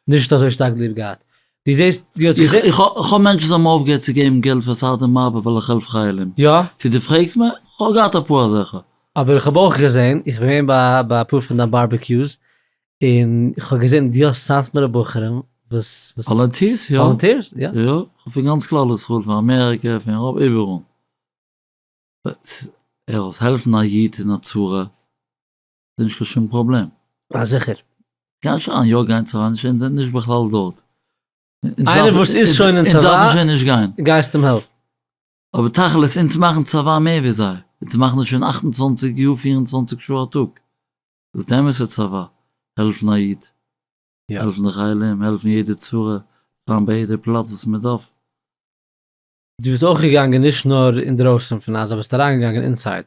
נישט אזוי שטארק ליב געהאט. דו זעסט, דו האסט געזען. איך, איך האב מענטשן וואס האבן אויפגעהערט צו געבן געלט פאר סארדע מארבע ווייל איך העלף חיילים. יא. צו דו פרעגסט מיר, איך האב געהאט אפאר אזעלכע. אבער איך האב אויך געזען, איך בין געווען ביי, ביי אפאר פון דיין בארבעקיוס, און איך האב געזען דו האסט סאטמארע בחורים וואס וואס וואלענטירס יא וואלענטירס יא יא כ'האב פון גאנץ כלל ישראל פון אמעריקע פון אייראפ איבעראל ער האט העלפן א איד אין א צרה איז נישט קיין שום פראבלעם. א זיכער. גיי נישט אריין יא גיין צבא נישט אונז זענען נישט בכלל דארט. איינער וואס איז שוין אין צבא דארף מען שוין נישט גיין. גייסט אים העלפן. אבער תכלית אונז מאכן צבא מער ווי זיי אונז מאכן עס שוין אַכט און צוואַנציק יאר פֿיר און צוואַנציק שעה א טאג. דאס אמת'ע צבא, העלפן א איד, העלפן די חיילים, העלפן יעדע צרה, זיין ביי יעדע פלאץ וואס מען דארף. דו ביסט אויך געגאנגען נישט נאר אינדרויסן פון עזה, ביסט אריינגעגאנגען אינסייד,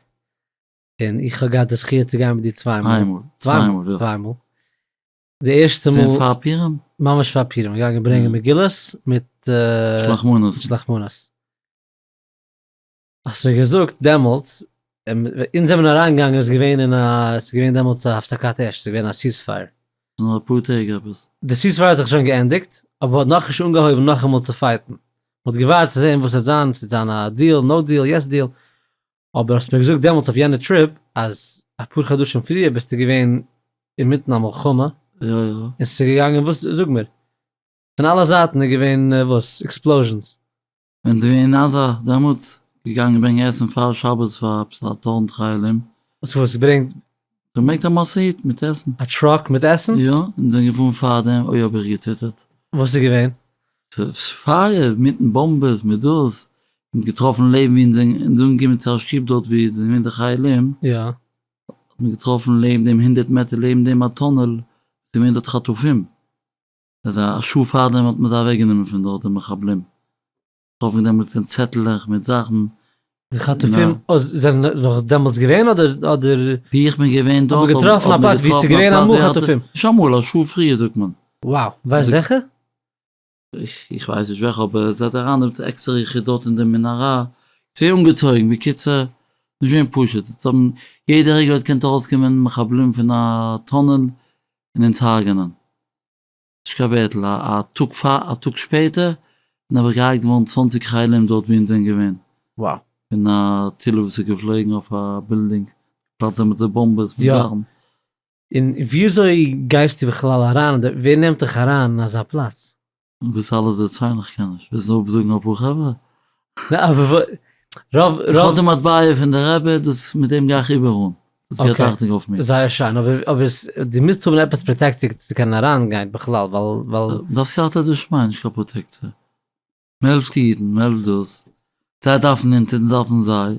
און איך האב געהאט די זכי' צו גיין מיט דיר צוויי מאל, איין מאל, צוויי מאל, יא. צוויי מאל, די ערשטע מאל, איז געווען פאר פורים? ממש פאר פורים, געגאנגען ברענגען מגילות מיט, שלח מנות, שלח מנות. האסט מיר געזאגט דעמאלטס, אונז זעמיר אריין געגאנגען איז געווען אין א, ס'איז געווען דעמאלטס א הפסקת אש, ס'איז געווען א סיס פייער. נאר אפאר טעג עפעס. די סיס פייער האט זיך שוין געענדיגט, אבער מ'האט נאכנישט אנגעהויבן נאכאמאל צו פייטן. מ'האט געווארט צו זען וואס עט זיין, ס'עט זיין א דיעל, נאו דיעל, יעס דיעל. אבער האסט מיר געזאגט דעמאלטס אויף יענע טריפ, אז אפאר חדשים פריער ביסטו געווען אינמיטן א מלחמה. יא יא. און ס'איז געגאנגען וואס? זאג מיר. פון אלע זייטן איז געווען וואס? עקספלאוזשענס. ווען דו אין עזה דעמאלטס געגאנגען ברענגען עסן פאר שבת פאר עפעס א טויזנט חיילים? האסט געוואוסט וואס געברענגט? געברענגט א משאית מיט עסן. א טראק מיט עסן? יא, אונז זענען געפארן פארדעם, אוי האב איך געציטערט. וואס איז געווען? פייער, מיטן באמבעס, מיט דאס, אונז געטראפן לעבן ווי אונז זענען אונז אנגעקומען צו א שטוב דארט ווי עס זענען געווען די חיילים, יא. האט מען געטראפן לעבן דעם הונדערט מעטער לעבן דעם א טונעל, עס איז געווען דארט חטופים. אזא שעה פארדעם האט מען זיי אוועק גענומען פון דארט די מחבלים, כאפן דעמאלטס קיין צעטלעך מיט זאכן. די חטופים זענען נאך דעמאלטס געווען אדער אדער. ווי איך בין געווען דארט האט מען געטראפן א פלאץ ווי ס'איז געווען אמאל חטופים. נישט אמאל א שעה פריער זאגט מען. וואו, ווייסט וועלכע? איך ווייס נישט וועלכע אבער ער זעט אריין דעמאלטס עקסטערע יחידות אין די מנהרה, ס'ווער אנגעצויגן, בקיצור נישט געווען פשוט, אונז האבן יעדע רגע האט געקענט ארויסקומען מחבלים פון א טונעל און אונז הרג'נען. נישט קיין ווערטל, א טאג פאר א טאג שפעטער און אבער געהארגט געווארן צוואַנציק חיילים דארט ווי אונז זענען געווען. וואו? פון א טיל וואס איז געפלויגן אויף א בילדינג, געפלאצט זיי מיט די באמבעס מיט זאכן. און וויאזוי גייסטו בכלל אריין, ווער נעמט דיך אריין אין אזא פלאץ? דאס אלעס דערציילן איך קען נישט, ווילסט נאר זאגן אפאר חברה? רוב רוב איך האב די מטבע פון די רבי, דאס מיט דעם גיי איך איבער אן, דאס געבט אכטונג אויף מיר. זייער שיין, אבער אבער דו מוזט האבן עפעס פראטעקציע כדי צו קענען אריינגיין בכלל, ווייל. דארף סייעתא דשמיא, נישט קיין פראטעקציע. מען העלפט אידן, מען העלפט דאס, זיי דארפן אונז, אונז דארפן זיי.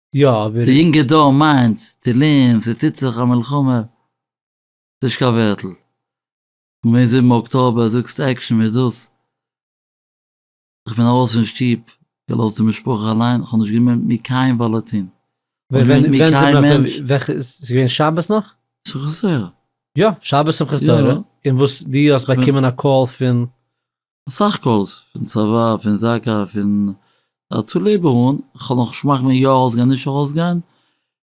יא אבער. די יונגע דור מיינט תהלים ס'טוט זיך א מלחמה ס'נישט קיין ווערטל און מער זיבן אקטאבער זאגסט עקשן מיט דאס איך בין ארויס פון שטוב געלאזט די משפחה אליין כ'האב נישט געמיינט מיר קיין וואלעטין. וועלכע איז געווען שבת נאך? שמחת תורה. יא שבת שמחת תורה און וואס די האסט באקומען א קאל פון סך הכל פון צבא, פון זקא, פון הצלה ב ה, איך האב נאך שמאכט ווען יא ארויסגיין נישט ארויסגיין,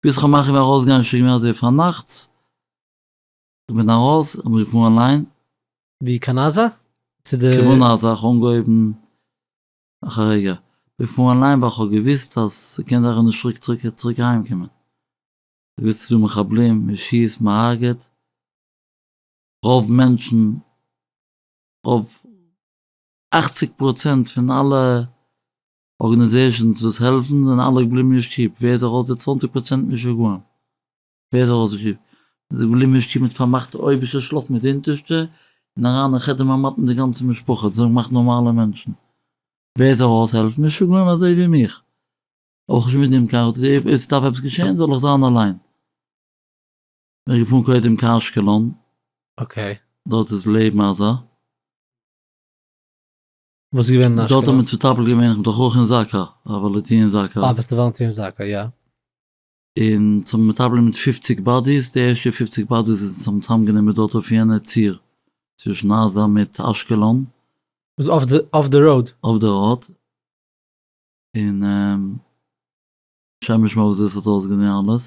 ביז איך האב מחליט ווען ארויסגיין שוין געווען אזוי פארנאכטס, איך בין ארויס, איך בין געפארן אליין. ווי קיין עזה? צו די. כבין עזה, איך האב אנגעהויבן נאך א רגע, איך בין געפארן אליין ווייל איך האב געוויסט אז ס'קען זיין איך וועל נישט צוריק צוריק צוריק אהיים קומען, איך וויס ס'דא מחבלים, מ'שיסט, מ'הארגעט, רוב מענטשן. רוב אכציג פראצענט פון אלע ארגענעזעשענס וואס העלפן זענען אלע געבליבן נישט שטוב, ווער איז ארויס די צוואנציג פראצענט משוגעים? ווער איז ארויס די שטוב? מען איז געבליבן נישט שטוב מען האט פארמאכט די אויבערשטע שלאפט מיט די אונטערשטע און אריין אין חדר ממעט מיט די גאנצע משפחה האט זיך געמאכט נארמאלע מענטשן, ווער איז ארויס העלפן? משוגעים אזוי ווי מיך, אבער איך האב נישט מיט דעם קיין רוץ, אויב ס'דארף עפעס געשען זאל איך זיין אליין. איך געפארן קודם קיין אשקלון. אקעי. דארט איז לעבן אזא. וואס איז געווען אין אשקלון? דארט האט מען צוטאפלט געווען איך בין דאך אויך אין זק א וואלענטיר אין זק א. אה ביסט א וואלענטיר אין זק א יא. און צו מטפלים מיט פֿופֿציק באדיס, די ערשטע פֿופֿציק באדיס איז צום צאם גענומען דארט אויף יענע ציר צווישן עזה מיט אשקלון. וואס אויף די אויף די ראוד? אויף די ראוד. און. שמש מויזעס האט אויסגענומען אלעס.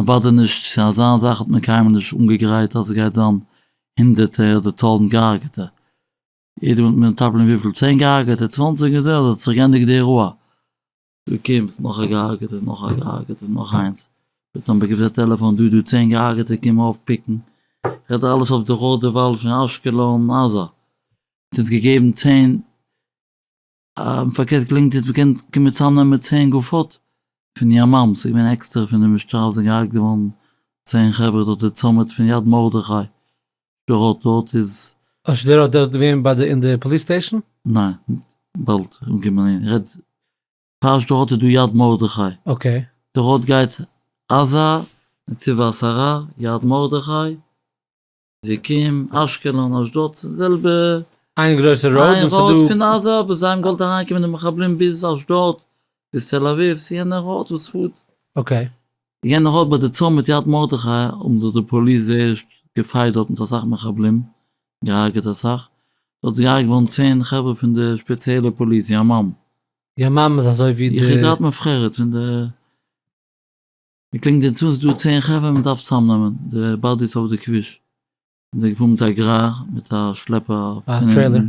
מ'באדערט נישט, ס'איז אזא זאך האט מען קיינמאל נישט אנגעגרייט אז ס'גייט זיין הונדערטע אדער טויזענט געהארגעטע, יעדער וועט מטפל'ן וויפיל, צען געהארגעטע, צוואנציג און זהו, ס'האט זיך גענדיגט די אירוע. דא קומט נאך א געהארגעטער, נאך א געהארגעטער, נאך איינס, ווערט אנבעקערט א טעלעפאן, דא דא צען געהארגעטע קום אויפפיקן, רעדט ער אלעס אויף דורך די וואל פון אשקלון, עזה האט אונז געגעבן צען, און פארקערט געלונגט איז געקענט קומען צאמנעמען צען גופות פון יממ ס איז געווען עקסטער פון די משטרה וואס זענען געהארגט געווארן צען חברה דארט די צומת פון יד מרדכי שדרות דארט איז אויף שדרות דארט געווען ביי די אין די פאליס סטעישן? ניין באלד אנגעקומען אהין איך רעד פאר שדרות איז דא יד מרדכי אקעי. די ראוד גייט עזה נתיב העשרה יד מרדכי. זיקים, אשקלון, אשדוד ס'איז די זעלבע. איין גרויסע ראוד און ס'איז דא. איין ראוד פון עזה וואס זיי האבן געוואלט אריינקומען די מחבלים ביז אשדוד, ביז תל אביב, ס'איז יענע ראוד וואס פארט. אקעי. יענע ראוד ביי די צומת מיט יד מרדכי האבן זיך די פאליס זייער געפייט דארט מיט אסאך מחבלים, געהארגעט אסאך. דארט איז געהארגעט געווארן צען חברה פון די שפעציעלע פאליס, ימ"מ. ימ"מ איז אזוי ווי די. יחידת מובחרת פון די. מ'קלינגט און צו ס'דא צען חברה מ'דארף צוזאמנעמען די באדיס אויף די כביש און זענען געפארן מיט א גרר מיט א שלעפער אויף טרעילער.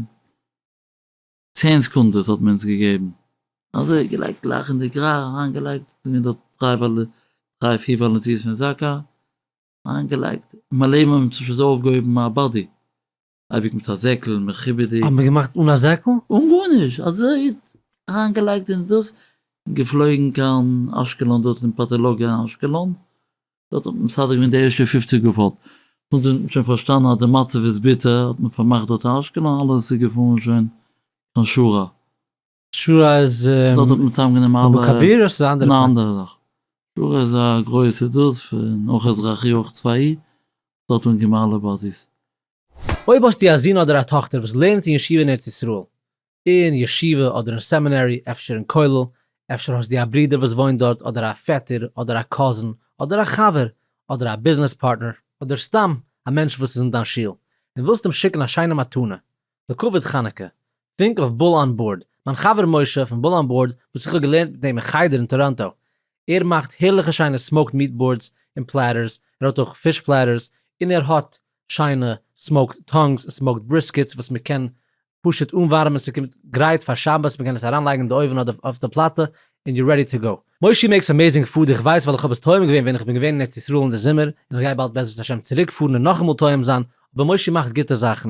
צען סעקונדעס האט מען אונז געגעבן. אזוי געלייגט גלייך אין די גרר אריינגעלייגט זענען דארט דריי דריי פיר וואלונטירס פון זקא אריינגעלייגט מלא מים האבן שוין אויפגעהויבן א באדי אייביג מיט א זעקל מכובד'יג. האט מען געמאכט אן א זעקל? אן גארנישט, אזוי אריין געלייגט אין דאס, און געפלויגן קיין אשקלון דארט אין פאטאלאגיע אין אשקלון, דארט האט מען מסדר געווען די ערשטע פופציג געפאלט, נאכדעם האט מען שוין פארשטאנען אז די מצב איז ביטער, האט מען פארמאכט דארט אשקלון, אלעס איז געפארן שוין קיין שרה. שורה איז דארט האט מען צוזאם גענומען אלע אבו כביר איז א אנדערע פלאץ, ניין אנדערע שורה איז א גרויסע דאס פון אויך אזרחי אויך צבאי דארט האט מען גענומען אלע באדיס. אויב האסטו א זון אדער א טאכטער וואס לערנט אין ישיבה אין ארץ ישראל, אין ישיבה אדער אין סעמינערי, אפשר אין כולל, אפשר האסטו א ברודער וואס וואוינט דארט אדער א פעטער אדער א קאזין אדער א חבר אדער א ביזנעס פארטנער אדער סתם א מענטש וואס איז אין דיין שול און ווילסט אים שיקן א שיינע מתנה לכבוד חנוכה, טרינק אויף בול אן בארד, מיין חבר משה פון בול אן בארד וואס איך האב געלערנט מיט אים אין חדר אין טאראנטא, ער מאכט הערליכע שיינע סמאוקד מיעט בארדס און פלעטערס, ער האט אויך פיש פלעטערס, און ער האט שיינע סמאוקד טאנגס און סמאוקד בריסקעטס וואס מען קען פשוט אנווארעמען ס'קומט גרייט פאר שבת מען קען עס אריינלייגן אין די אויוון אדער אויף די פלאטע און יו רעדי טו גאו. מושי מעיקס אמעזינג פוד איך ווייס ווייל איך האב עס טועם געווען ווען איך בין געווען אין ארץ ישראל אין די זומער און איך גיי באלד בעזרת השם צוריק פארן און נאכאמאל טועם זיין אבער מושי מאכט גוטע זאכן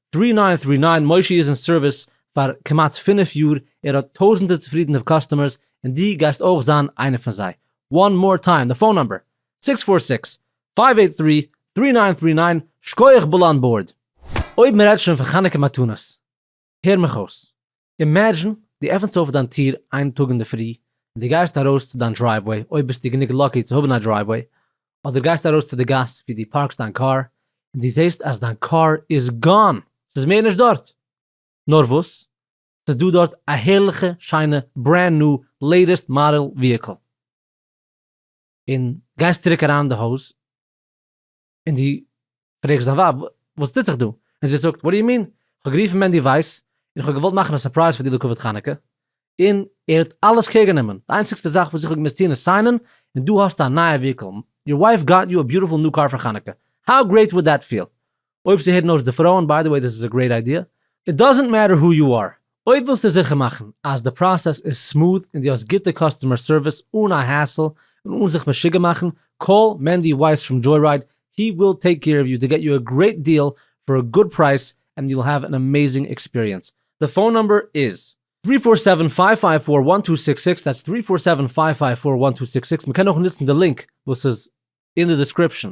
טרי ניין טרי ניין מושי איז אין סערוויס פאר כמעט פֿינף יאר, ער האט טויזענטער צופרידענע קאסטומערס, און די גייסט אויך זיין איינע פון זיי. וואן מאר טיים די פאון נאמבער, סיקס פאר סיקס, פייוו עיט טרי, טרי ניין טרי ניין, שקויעך בול אן בארד! אויב מ'רעדט שוין פון חנוכה מתנות, הער מיך אויס, אימעדזשין דו עפענסט אויף דיין טיר איין טאג אינדערפרי און דו גייסט ארויס צו דיין דרייוועי, אויב ביסטו גענוג לאקי צו האבן א דרייוועי, אדער גייסט ארויס צו די גאס ווי דו פארקסט דיין קאר, און דו זעסט אז דיין קאר איז גאן! ס'איז מער נישט דארט! נאר וואס, ס'איז דא דארט א הערליכע שיינע ברענד ניו לעיטעסט מאדעל וויהיקל! און גייסט צוריק אריין אין די הויז. און דו פרעגסט דיין ווייב וואס טוט זיך דא? און זי זאגט, וואט דו יו מין? כ'האב גערופן מענדי ווייס, און כ'האב געוואלט מאכן א סורפרייז פאר דיר לכבוד חנוכה, און ער האט אלעס קעיר גענומען, די איינציגסטע זאך וואס איך האב געמוזט טון איז סיינען, און דא האסטו א נייע וויהיקל, יור ווייף גאט יו א ביוטיפול ניו קאר פאר חנוכה, האו גרעיט וואלד דעט פיעל? אויב ס'הערן אויס די פרויען, ביי די וועי דעס איז א גרעיט איידיע, איט דאזענט מעטער הו יו אר, אויב ווילסטו זיכער מאכן אז די פראסעס איז סמאוט און דו האסט גוטע קאסטומער סערוויס אן א העסל און אן זיך משוגע מאכן, קאל מענדי ווייס פראם דזשוי-רייד, הי וויל טעיק קעיר אוו יו טו געט יו א גרעיט דיעל פאר א גוד פרייס ענד יו וויל העוו ען עמעיזינג עקספיריענס. די פאון נומבער איז. טרי פאר סעווען פייוו פייוו פאר וואן טו סיקס סיקס, דעטס טרי פאר סעווען פייוו פייוו פאר וואן טו סיקס סיקס, מען קען אויך נוצן די לינק וואס איז אין די דעסקריפשאן.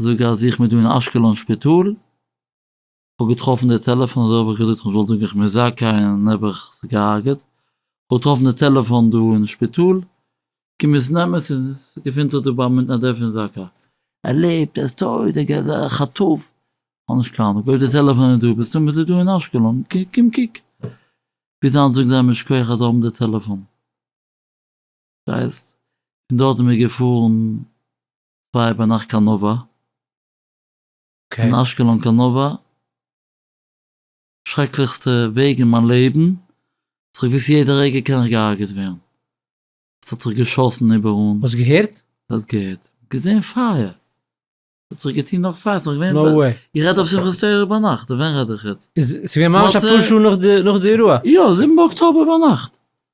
זאג אז איך בין דא אין אשקלון שפיטאל, כ'האב געטראפן די טעלעפאן אזוי האב איך געזאגט כ'זאל זאגן איך בין זכאי און האב איך זיך געהארגעט, כ'האב געטראפן די טעלעפאן דא אין שפיטאל, קום עס נעם עס און עס געפינט זיך דא ביים מתנדב פון זקא. ער לעבט, ער איז טויט, ער איז א חטוף, כ'האב נישט קיין אנונג, אויב די טעלעפאן איז דא מסתמא איז ער דא אין אשקלון, קום קוק. ביז היינט זאגן זיי מיר שכוח אז זיי האבן די טעלעפאן. דאס הייסט פון דארט זעמיר געפארן. פייער ביי נאכט קאנאווע, אין אשקלון קאנאווע, שרעקליכסטע וועג אין מיין לעבן, וואס איך וואוסט יעדע רגע קען איך געהארגעט ווערן, עס האט זיך געשאסן איבער אן. האסט געהערט? האסט געהערט? געזען פייער! האט זיך געטון נאך פייער, ס'נאך געווען, נאו וועי! איך רעד אויף שמחת תורה ביינאכט, ווען רעד איך יעצט? איז ס'געווען ממש אפאר שעה נאך די אירוע? יא, זיבן באקטאבער ביינאכט,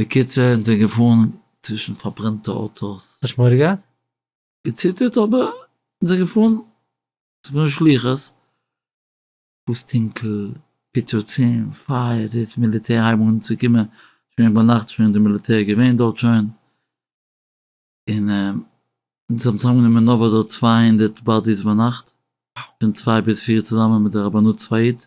בקיצור זענען זיי געפארן צווישן פארברענטע אויטאס. האסט נישט מורא געהאט? געציטערט אבער זענען זיי געפארן צפון שלוחס וואס טונקל, פיצוצים, פייער, זעהט מיליטער הייבן אן צו קומען שוין ביינאכט שוין די מיליטער געווען דארט שוין און זיי האבן צוזאמגענומען נארוואס דארט צוויי הונדערט באדיס ביינאכט פון צוויי ביז פיר צוזאמען מיט די רבנות צבאית.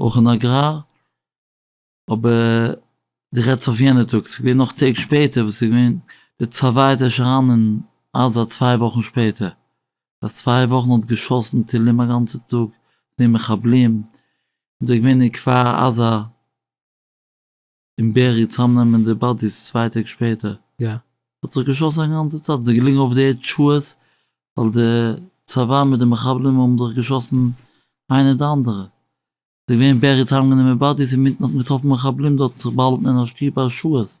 אויך אין אגראר, אבער דו רעדסט אויף יענע טאג, ס'איז געווען נאך טעג שפעטער וואס ס'איז געווען, די צבא איז ערשט אריין אין עזה צוויי וואכן שפעטער, פאר צוויי וואכן האט געשאסן טילים א גאנצע טאג, ס'איז געווען מחבלים, און ס'איז געווען אין כפר עזה. און בערי צאמנעמען די באדיס צוויי טעג שפעטער. יא. ס'האט זיך געשאסן א גאנצע צייט, ס'איז געליגן אויף די ערד שעות, ווייל די צבא מיט די מחבלים האבן זיך געשאסן איינער די אנדערע. ס'איז געווען בערי צאמגענומען באדיס אינמיטן האט מען געטראפן מחבלים דארט זיך באהאלטן אין א שטוב א שעות.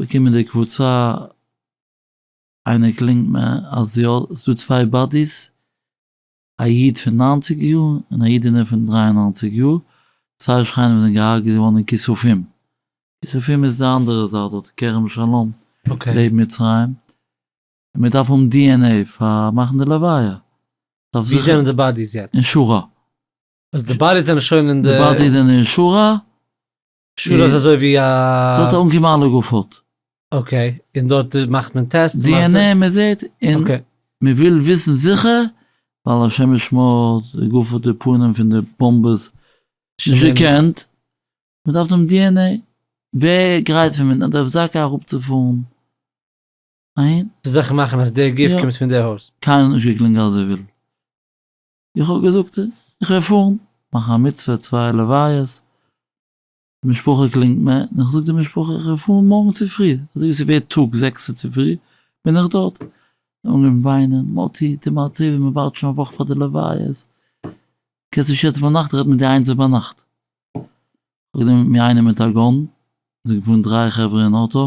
באקומען די קבוצה אייניקלינג מען אז יא סאיז דא צוויי באדיס א איד פון ניינציג יאר און א אידענע פון דרײַ און נײַנציק יאר צוויי שכנים זענען געהרגעט געווארן אין כיסופים, כיסופים איז די אנדערע זייט דארט כרם שלום לעבן מצרים, און מען דארף האבן DNA פאר מאכן די לוויה. ווי זענען די באדיס יעצט? אין שורה. אז די באדיס זענען שוין אין די. די באדיס זענען אין שורה שול איז אזוי ווי דארט א. אנגעבן אלע גופות. אקעי, און דארט מאכט מען טעסט? די ען עי מען זעט און מען וויל וויסן זיכער ווייל השמש שמאלט, די גופות די פנים פון די באמבעס נישט געקענט, מען דארף דעם די ען עי, ווער גרייט פון ווען דארף זאקא אראפצופארן אהין? צו זיכער מאכן אז די גוף קומט פון די הויז. קיינער האט נישט געקלינגען אזוי ווילד. איך האב געזאגט איך וועל פארן מאכן א מצוה צוויי לוויות, די משפחה קלינגט מיר און איך זאג די משפחה איך וועל פארן מארגן צופרי אזוי ווי ס'ווערט טאג זעקסע צופרי בין איך דארט, זיי האבן אנגעהויבן וויינען, מאטי טו מיר א טובה מען ווארט שוין א וואך פאר די לוויות, קענסט נישט יעצט ביינאכט רעדן מיט די איינזער ביינאכט. איך האב גענומען מיט מיר איינעם מיט א גאן, מיר זענען געפארן דריי חברה אין אוטא,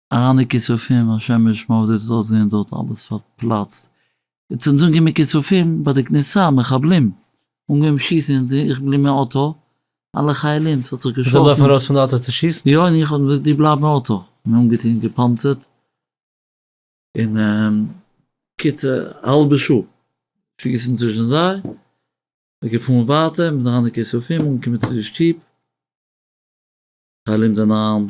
אהנע כיסופים, השם ישמור ווי אזוי ס'וועט אויסזעהן דארט אלעס פארפלאצט, און צום זאגן מיט כיסופים ביי די כניסה, מחבלים אנגעהויבן שיסן אין די איך בלי מהאוטא, אלע חיילים ס'האט זיך געשאסן. זיי לויפן ארויס פון די אויטא צו שיסן? יא און איך האב געזאגט דו בלייב אין אויטא, מיר אנגעטון געפאנצערט, און קיצור האלבע שעה שיסן צווישן זיי, מ'איז געפארן ווייטער מ'איז אהנע כיסופים אנגעקומען צו די שטוב, חיילים זענען אריין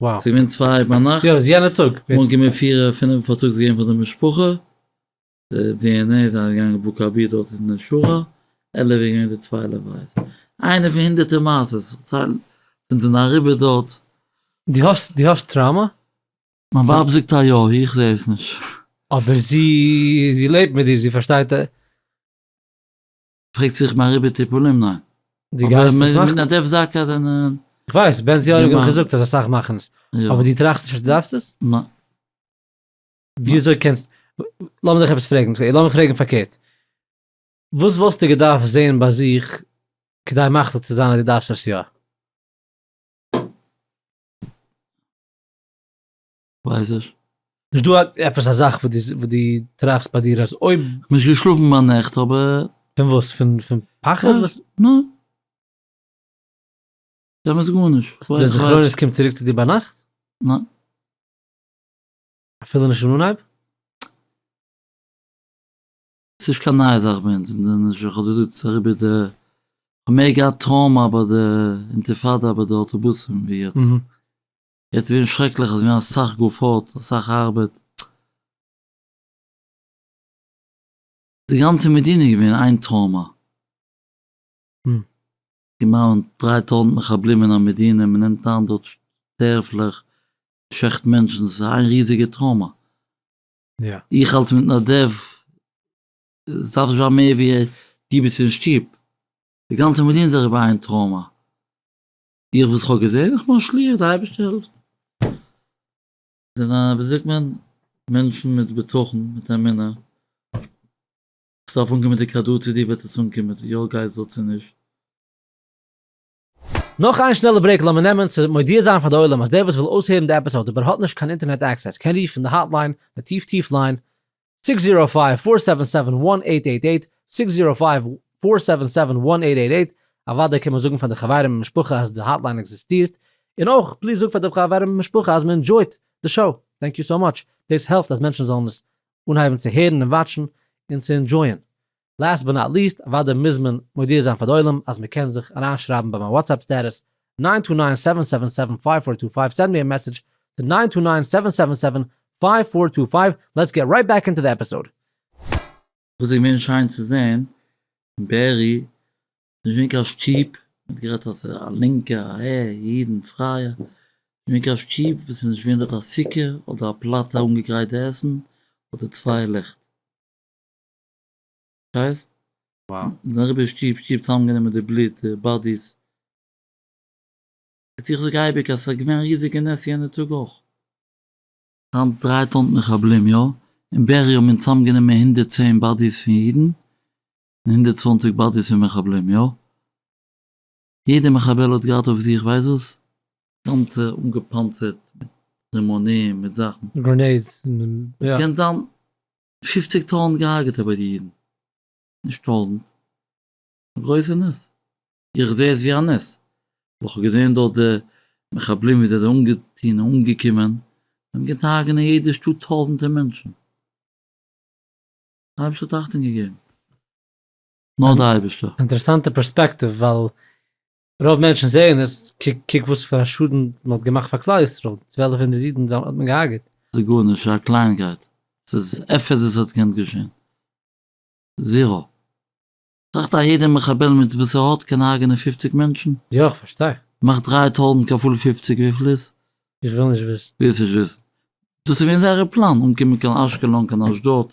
וואו. ס'איז געווען צוויי אויף ביינאכט. יא ס'איז יענע טאג. מארגן געווען פיר פינעף פארטאגס געגעבן פאר די משפחה. די די ען עי זענען געגאנגען בקר ב דארט אין די שוהל. עלעווע איז געווען די צוויי לוויות. איינע פון הונדערטער מעשות איך צייל אונז זענען אריבער דארט. די האסט די האסט טראומא? מיין ווייב זאגט א יא, איך זע עס נישט. אבער זי זי לעבט מיט דיר זי פארשטייט. פרעגט זיך מען אריבער טיפולים? ניין. די גייסט עס מאכן? א דעפ זאק אדער א. איך ווייס, בנציון האט געווען געזאגט אז אסאך מאכן עס. אבער דו טראכסט נישט אז דו דארפסט עס? ניין. ווי אזוי קענסט. לאמיר דיך עפעס פרעגן, לאמיר פרעגן פארקערט. וואס וואלסטו געדארפט זען ביי זיך כדי מחליט צו זיין אז דו דארפסט עס יא? ווייסעך. נישט דא עפעס א זאך וואס דו טראכסט ביי דיר אז אויב. כ'האב נישט געשלאפן ביי נעכט אבער. פון וואס? פון פחד? ניין. באמת גארנישט. די זכרונות קומט צוריק צו דיר ביינאכט? ניין. אפילו נישט אין אנהייב? ס'נישט קיין נייע זאך ביי אונז, אונז זענען נישט, כ'האב דיר געזאגט ס'איז אריבער די, כ'האב מער געהאט טראומא ביי די אינטיפאדא ביי די אויטאבוסים ווי יעצט. יעצט איז געווען שרעקליך, עס איז געווען אסאך גופות, אסאך ארבעט. די גאנצע מדינה איז געווען איין טראומא. געמאלען דריי טויזנט מחבלים אין א מדינה, מען נעמט איין דארט שטערפלעך, שעכט מענטשן, עס איז איין ריזיגע טראומא. איך אלס מתנדב, עס דארף נישט זיין מער ווי דו ביסט אין שטוב, די גאנצע מדינה איז אריבער איין טראומא. איך וואס כ'האב געזען, איך בין א שליח, די אייבערשטער העלפט מיר, זענען א ווי זאגט מען, מענטשן מיט בטחון, מיט אמונה, ס'דארף אנקומען מיט די כדור, צו דיר וועט עס אנקומען מיט יא גייסט זאל צו נישט. נאך איין שנעלע ברעיק לאמיר נעמען צו מודיע זיין פאר די עולם אז דער וואס וויל אויסהערן די עפיסאוד אבער האט נישט קיין אינטערנעט עקסעס קען רופן די האטליין די טיף טיף ליין סיקס זירא פייוו פאר סעווען סעווען וואן עיט עיט עיט, סיקס זירא פייוו פאר סעווען סעווען וואן עיט עיט עיט, אוודאי קען מען זאגן פאר די חברים און משפחה אז די האטליין עקזיסטירט, און אויך פליז זאג פאר די חברים און משפחה אז מען ענדזשויט די שאו, טענק יו סאו מאטש, דאס העלפט אז מענטשן זאלן עס אנהייבן צו הערן און וואטשן און צו ענדזשויען, לאסט באט נאט ליסט, אוודאי מוז מען מודיע זיין פאר די עולם אז מען קען זיך אריינשרייבן ביי מיין וואטסעפפ סטעטוס, ניין טו ניין סעווען סעווען סעווען פייוו פאר טו פייוו, סענד מי א מעסעדזש טו ניין טו ניין סעווען סעווען סעווען פייוו פאר טו פייוו, לעטס געט רייט בעק אינטו די עפיסאוד. וואס איז געווען שיין צו זעהן אין בערי איז נישט געווען קיין שטופ, מען האט גערעדט אז ס'איז א לינקע א ע אידן פרייע, נישט געווען קיין שטופ וואס איז נישט געווען דארט א סוכה אדער א פלאטע אנגעגרייט די עסן אדער צוויי לעכט. שטייסט? וואו? זענען אריבער שטוב שטוב צוזאמגענומען די בלוט די באדיס. איצט איך זאג אייביג אז ס'איז געווען א ריזיגע נס יענע טאג אויך. היינט דריי טוינט מחבלים יא, אין בארי האבן מיר צוזאמגענומען הונדערט צען באדיס פון אידן און הונדערט צוואַנציק באדיס פון מחבלים יא. יעדע מחבל האט געהאט אויף זיך ווייסט וואס? גאנצע אנגעפאנצערט מיט רימונים מיט זאכן. גרענעידס און יא. קען זיין פופציג טויזנט געהארגעטע ביי די אידן, נישט טויזנט, א גרויסע נס, איך זעה עס ווי א נס, ווייל איך האב געזען דארט די מחבלים ווי זיי זענען אנגעטוהן און אנגעקומען, זיי האבן געטוהן הרג'נען אין יעדע שטאט טויזנטער מענטשן, די אייבערשטער האט אכטונג געגעבן, נאר די אייבערשטער. אינטערעסאנטע פערספעקטיוו ווייל רוב מענטשן זעען עס, קוק קוק וואס פאר א שאדן מען האט געמאכט פאר כלל ישראל, צוועלף הונדערט אידן האט מען געהארגעט. ס'איז גארנישט, ס'איז א קלייניקייט, ס'איז עפעס וואס האט געקענט געשען. זירא. טראכט א יעדע מחבל מיט וואס ער האט קען הרג'נען פופציג מענטשן. יא איך פארשטיי. מאך דרײַ טויזנט כפול פופציג וויפיל איז? איך וויל נישט וויסן. וועסט נישט וויסן. דאס איז געווען זייערע פלאן, אנקומען קיין אשקלון, קיין אשדוד,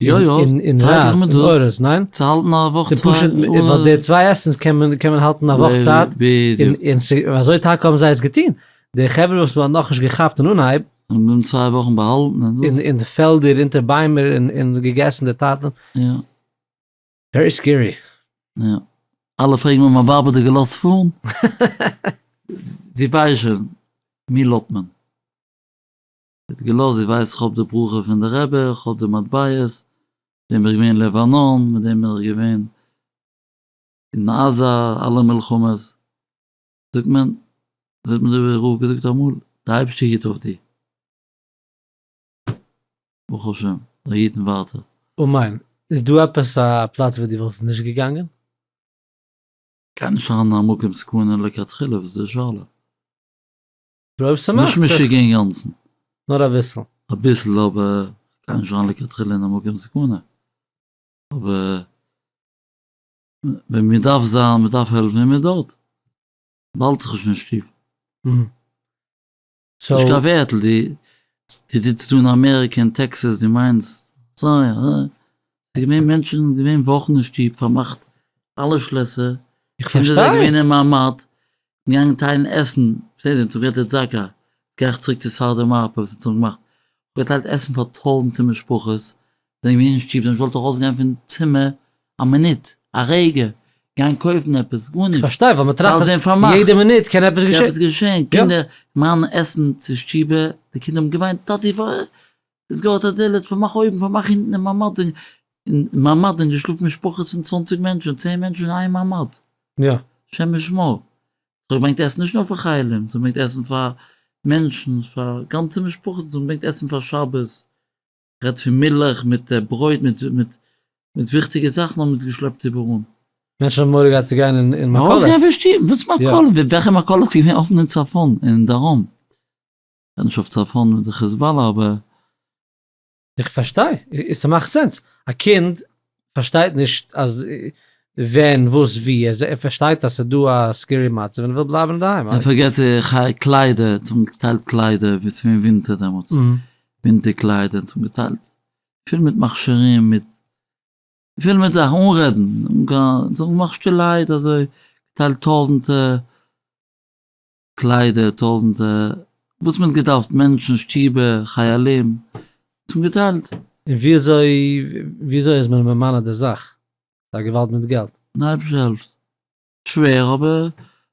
יא יא, טייטש איך מיט דאס, צו האלטן א וואך צוויי, ווייל די צוויי עסנס קען מען האלטן א וואך צייט, און אזוי טאקע האבן זיי עס געטון, די חברה וואס מען האט נאכנישט געכאפט אין אנהייב, און בלוימ צוויי וואכן באהאלטן אין די פעלדער אונטער ביימער און געגעסן די טאטן, יא, ווערי סקערי, יא, אלע פרעגן מיין ווייב האט דיר געלאזט פארן? זי ווייסט שוין, מי לוט מען. האט געלאזט ווי ווייסט איך האב די ברכה פון די רבי איך האב די מטבעות מיט דעם בין איך געווען אין לבנון מיט דעם בין איך געווען אין עזה אלע מלחמות זאגט מען האט מיר דער רב געזאגט אמאל די אייבערשטער היט אויף דיר ברוך השם זיי היטן ווייטער. אמן, איז דא עפעס א פלאץ וואו דו וואלסט נישט געגאנגען? קען נישט זיין א מקום סכנה לכתחילה וואס איז די שאלה? און אויב ס'מאכט זיך. נישט משוגע אינגאנצן. נאר אביסל. אביסל אבער גיי נישט זיין לכתחילה אין א מקום סכנה. אבער ווען מען דארף זיין, מען דארף העלפן איז מען דארט. באלד זיך נישט אין שטוב. נישט קיין ווערטל, די די זיצט דא אין אמעריקע אין טעקסעס די מיינסט אזוי אזוי. ס'איז געווען מענטשן איז געווען וואכן אין שטוב פארמאכט אלע שלעסער. איך פארשטיי. קינדער זענען געווען אין מעמד. געגאנגען טיילן עסן כסדר צום געטער זאקא, יעצט גיי איך צוריק צו סארדער מארק וואס האט צום געמאכט אפגעטיילט עסן פאר טויזענטער משפחות, זענען מיר אין שטוב דעמאלטס וואלט איך אויסגעגאנגען פון צימער א מינוט, א רגע, גיין קויפן עפעס, גארנישט, ס'אלץ ווען פארמאכט, קען עפעס געשען, קינדער מיינען עסן צו שטובער, די קינדער האבן געוויינט טאטי וואס איז געהאט א דלת פארמאך אויבן פארמאך אינטן אין ממד אין ממד זענען געשלאפן משפחות פון צוואנציג מענטשן צען מענטשן אין איין ממד. יא. השם ישמור. זיי האבן געברענגט עסן נישט נאר פאר חיילים, זיי האבן געברענגט עסן פאר מענטשן, פאר גאנצע משפחות, זיי האבן געברענגט עסן פאר שבת, כ'רעד פון מילך מיט ברויט מיט מיט מיט וויכטיגע זאכן האבן מיט געשלעפט איבעראל. מענטשן האבן מורא געהאט צו גיין אין אין מכולת. ארויסגיין פון שטוב, וואס מכולת? וועלכע מכולת איז געווען אפן אין צפון אין דרום? זענען נישט אויף צפון מיט די חיזבאלא אבער. איך פארשטיי, ס'מאכט סענס, א קינד פארשטייט נישט אז ווען וואס ווי, ער פארשטייט אז ס'איז דא א סקערי מצב און ער וויל בלייבן אינדערהיים. און פארגעס צו חיי קליידער, אונז האבן געטיילט קליידער ווי ס'איז געווען ווינטער דעמאלטס, ווינטער קליידער, אונז האבן געטיילט פול מיט מכשירים, מיט פול מיט זאכן, אנרעדן, און קיין, אונז האבן געמאכט שטילערהייט אזוי, געטיילט טויזענטער. קליידער, טויזענטער, וואס מען האט געדארפט, מענטשן, שטובער, חיילים, האט מען געטיילט. און וויאזוי וויאזוי איז מען ממלא די זאך? ס'איז א געוואלד מיט געלט. די אייבערשטער העלפט. שווער אבער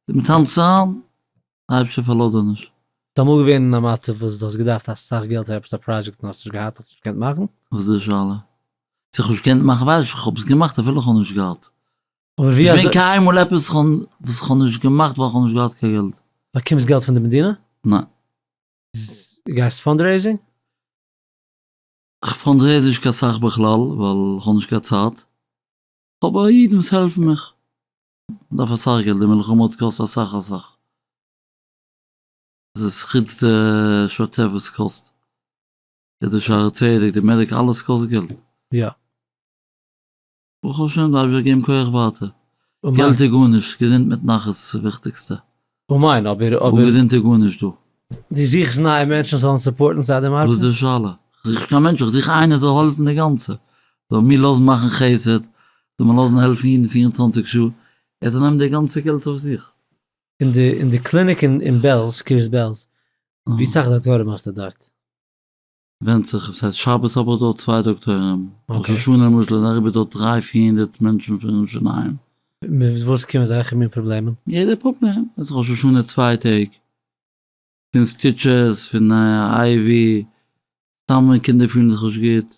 מיט היינט צאם, די אייבערשטער פארלאזט דיר נישט. איז אמאל געווען אין א מצב וואס דו האסט געדארפט אסאך געלט פאר עפעס א פראדזשעקט און האסט נישט געהאט, האסט נישט געקענט מאכן? וואס איז די שאלה? צו איך האב נישט געקענט מאכן ווייז איך, איך האב עס געמאכט אפילו איך האב נישט געהאט. איז געווען קיינמאל עפעס וואס איך האב נישט געמאכט ווייל איך האב נישט געהאט קיין געלט. באקומסט געלט פון די מדינה? ניין. גייסט פאנדרעיזינג? כ'פאנדרעיז נישט קיין סאך בכלל ווייל כ'האב נישט קיין צייט. כ'האב בה אידן וואס העלפן מיך. מ'דארף אסאך געלט, די מלחמה האט געקאסט אסאך אסאך. עס איז חוץ די שוטף וואס קאסט. די שערי צדק, די מעדיקעל, אלעס קאסט געלט. יא. ברוך השם דארף איך געבן כח ווייטער, געלט איז גארנישט, געזונט מיט נחת איז ס'איז וויכטיגסטע, אמן אבער אבער אן געזונט איז גארנישט דא. דו זוכסט נייע מענטשן זאלן סופארטן סאטע מארקעט? וואס איז די שאלה? איך זוך נישט קיין מענטשן, איך זוך איינער זאל העלפן די גאנצע, זאל מיר לאזן מאכן חסד, זאל מיר לאזן העלפן אידן פֿיר און צוואַנציק שעה, ער זאל נעמען די גאנצע געלט אויף זיך. אין די אין די קליניק אין אין בעלז, קרית בעלז, ווי סאך דאקטוירים האסטו דארט? ווענדט זיך אויב ס'הייסט שבת האב איך דארט צוויי דאקטוירים, ראש השנה למשל איז אריבער דארט דריי פיר הונדערט מענטשן פון שיניים. מיט וואס קומען אזעלכע מין פראבלעמען? יעדער פראבלעם, עס איז ראש השנה צוויי טעג, פון סטיטשעס, פון איי ווי, סתם ווען קינדער פילן זיך נישט גוט,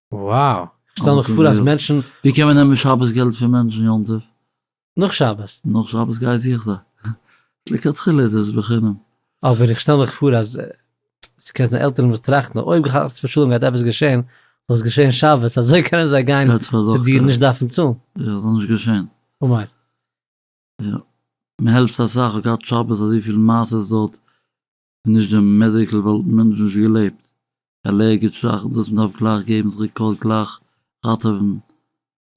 וואו! כ'שטעל מיך פאר אז מענטשן. ווי קען מען נעמען שבת געלט פון מענטשן יום טוב? נאך שבת. נאך שבת גיי זוך זיי. לכתחילה איז עס בחינם. אבער איך שטעל מיך פאר אז ס'קען זיין עלטערן וואס טראכטן אויב חס ושלום גייט עפעס געשען זאל עס געשען שבת אזוי קענען זיי גיין צו דיר נישט דארפן צאלן. יא ס'זאל נישט געשען. אמן. יא. מ'העלפט אסאך. כ'האב געהאט שבת אזויפיל מעשה'ס דארט. נישט די מעדיקל וואלטן מיר נישט געלעבט, עלערגיטש זאכן דאס מיר דארף גלייך געבן זיך די קאלט גלייך ראטעווען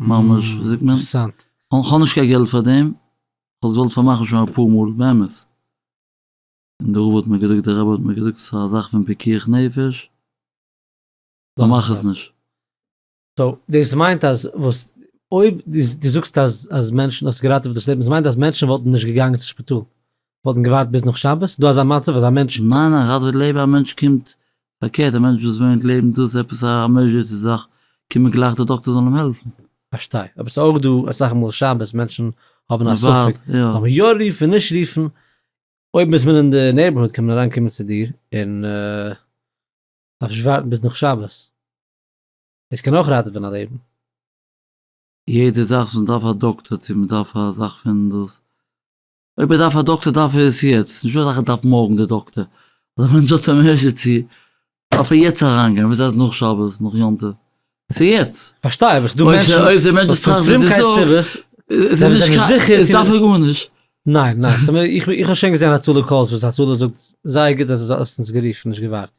ממש ווי זאגט מען אינטערסאנט. כ'האב נישט קיין געלט פאר דעם, כ'וואלט עס געוואלט פארמאכן שוין אפאר מאל באמת, און די רב האט מיר געזאגט די רבי האט מיר געזאגט ס'איז א זאך פון פיקוח נפש, פארמאך עס נישט. סאו דאס מיינט אז וואס אויב דו זאגסט אז אז מענטשן האסט געראטעוועט דאס לעבן דאס מיינט אז מענטשן וואלטן נישט געגאנגען צו שפיטאל וואלטן געווארט ביז נאך שבת דא אזא מצב אז א מענטש. ניין א ראטעוועט לעבן א מענטש קומט פארקערט א מענטש וואס וואינט לעבן דאס עפעס א עמערזשענסי זאך קומט מען גלייך די דאקטער זאל אים העלפן. פארשטיי אבער סאיז אויך דא אסאך מאל שבת מענטשן האבן א ספק זאל מען יא רופן נישט רופן אויב איז מען אין די נעיבערהוד קען מען אריין קומען צו דיר און דארפסט נישט ווארטן ביז נאך שבת. עס קען אויך ראטעווען א לעבן. יעדע זאך וואס מ'דארף א דאקטער צו מ'דארף א זאך פון דאס, אויב ער דארף א דאקטער דארף ער עס יעצט, נישט וואס ער דארף מארגן די דאקטער, אדער ווען מ'זאגט א עמערזשענסי דארף ער יעצט אריינגיין, וויאזוי אז נאך שבת נאך יום טוב, ס'איז יעצט. כ'פארשטיי אבער ס'דא מענטשן אויב די מענטש וואס טראכט וואס דו פרומקייט זאגסט סיבות איז זענען זיי נישט זיכער צו דארף ער גארנישט. ניין ניין סתם איך איך האב שוין געזען הצלה קאלס וואס הצלה זאגט זייער גוט אז דו האסט אונז גערופן נישט געווארט.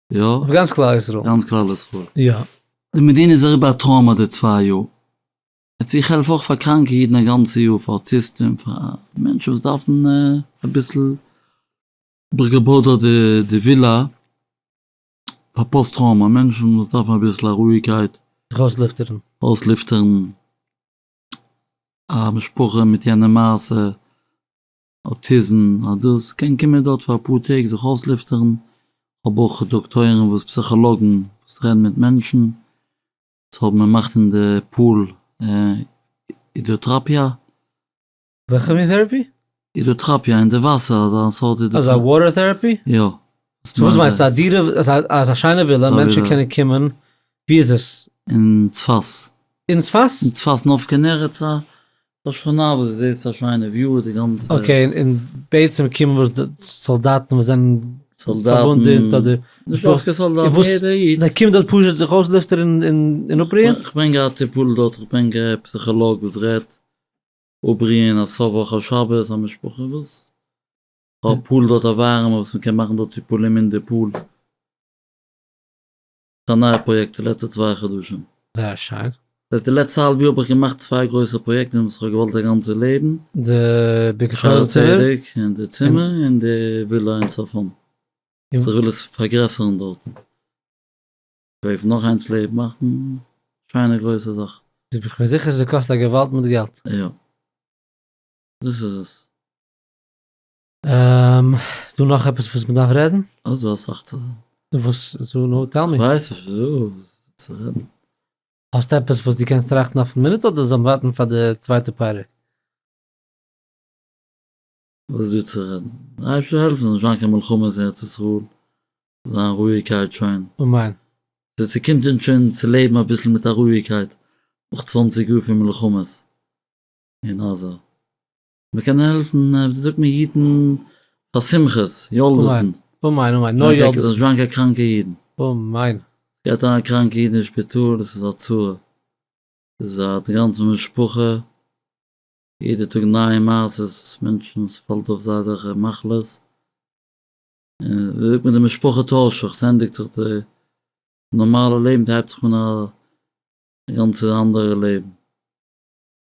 יא? אויף גאנץ כלל ישראל. גאנץ כלל ישראל. יא. די מדינה איז אריבער א טראומא די צוויי יאר. יעצט איך העלף אויך פאר קראנקע אידן א גאנצע יאר, פאר אוטיסטים, פאר מענטשן וואס דארפן אביסל ברגעבאד אדער די ווילא, פאר פאסט טראומא מענטשן וואס דארפן אביסל א רואיגקייט. זיך אויסליפטערן. אויסליפטערן א משפחה מיט יענע מעשה. אוטיזם, אז דאס קען קומען דארט פאר אפאר טעג זיך אויסלופטערן, כ'האב אויך דאקטוירים וואס פסיכאלאגן וואס רעדן מיט מענטשן, וואס האבן מען מאכט אין די פאל הידראטראפיא. וועלכע מין טעראפי? הידראטראפיא, אין די וואסער אזא סארט הידראטראפיא. אזא וואטער טעראפי? יא. סאו וואס מיינסטו א דירה אזא שיינע ווילא מענטשן קענען קומען, ווי איז עס? אין צפת. אין צפת? אין צפת נפקא נערץ א ס'איז א שכונה וואס איז זעהר א שיינע וויו די גאנצע. אקעי און בעצם קומען וואס די סאלדאטן וואס זענען פארוואונדעט אדער משפחות און וואס זיי קומען דארט פשוט זיך אויסלופטערן און אפרוען? כ'בין געהאט טיפול דארט כ'בין גע פסיכאלאג וואס רעדט אפרוען א סוף וואך א שבת א משפחה וואס האט פול דארט א ווארעמע וואס מ'קען מאכן דארט טיפולים אין די פול. א נייע פראיעקט די לעצטע צוויי חדשים. זייער שיין. זייט די לעצטע האלב יאר האב איך געמאכט צוויי גרויסע פראיעקטן וואס איך האב געוואלט א גאנצע לעבן. די ביקשן צימער? שערי צדק און די צימער און די ווילא אין צפון. סאו איך וויל עס פארגרעסערן דארטן. קויפן נאך איינס לעבן מאכן שיינע גרויסע זאך. איך בין זיכער ס'קאסט א געוואלד מיט געלט. יא. דאס איז עס. איז דא נאך עפעס וואס מ'דארף רעדן? אוי ס'דא אסאך צו רעדן. וואס סאו נאו טעל מי. כ'ווייס נישט וואס צו רעדן. האסט עפעס וואס דו קענסט טראכטן אויפן מינוט אדער זאלן ווארטן פאר די צווייטע פרק? וואס איז דא צו רעדן? אייביג צו העלפן ס'זאל נישט זיין קיין מלחמות אין ארץ ישראל, ס'זאל זיין רואיגקייט שוין. אמן. ס'קומט אונז שוין צו לעבן אביסל מיט א רואיגקייט נאך צוואנציג יאר פון מלחמות אין עזה. מען קען העלפן ווי זאגט מען אידן פאר שמחות יולדות'ן. אמן אמן נאר יולדות. זיי זענען קעגן קראנקע אידן. אמן. גייט אריין א קראנקע איד אין שפיטאל דאס איז א צרה. ס'איז א גאנצע משפחה. יעדע טאג נייע מעשות וואס מענטשן ס'פאלט אויף זיי אזעלכע מחלות. און ווי זאגט מען די משפחה טוישט זיך ס'ענדיגט זיך די נארמאלע לעבן ס'הייבט זיך אן א גאנצע אנדערע לעבן.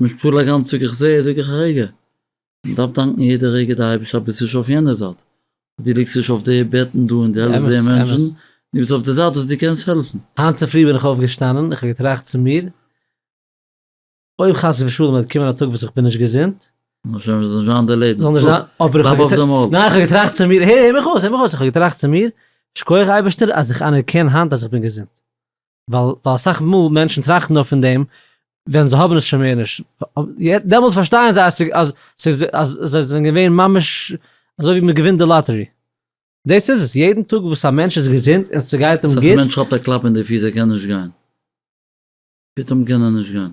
מיט פול א גאנץ טאג איך זע זאג איך א רגע, מען דארף דאנקן יעדע רגע די אייבערשטער אז ביסט נישט אויף יענע זייט, דו ליגסט נישט אויף די בעטן דא און דו העלפסט די מענטשן, דו ביסט אויף די זייט וואס דו קענסט העלפן. היינט צופרי בין איך אויפגעשטאנען, איך האב געטראכט צו מיר, אויב חס ושלום וועט קומען א טאג וואס איך בין נישט געזונט, זאל נישט זיין די לעבן, זאל נישט זיין, אבער איך האב געטראכט, ניין איך האב געטראכט צו מיר, הער מיר אויס, הער מיר אויס, איך האב געטראכט צו מיר, שקויעך אייבערשטער אז איך אנערקען היינט אז איך בין געזונט, ווייל ווייל אסאך מאל מענטשן טראכטן נאר פון דעם ווען זיי האבן עס שוין מער נישט, דעמאלטס פארשטייען זיי אז ס'איז ס'איז אז זיי זענען געווען ממש אזוי ווי מען געווינט די לאטערי. דאס איז עס, יעדן טאג וואס א מענטש איז געזונט און ס'גייט אים גוט, מענטש כאפט א קלאפ אין די פיס ער קען נישט גיין, פתאום קען ער נישט גיין.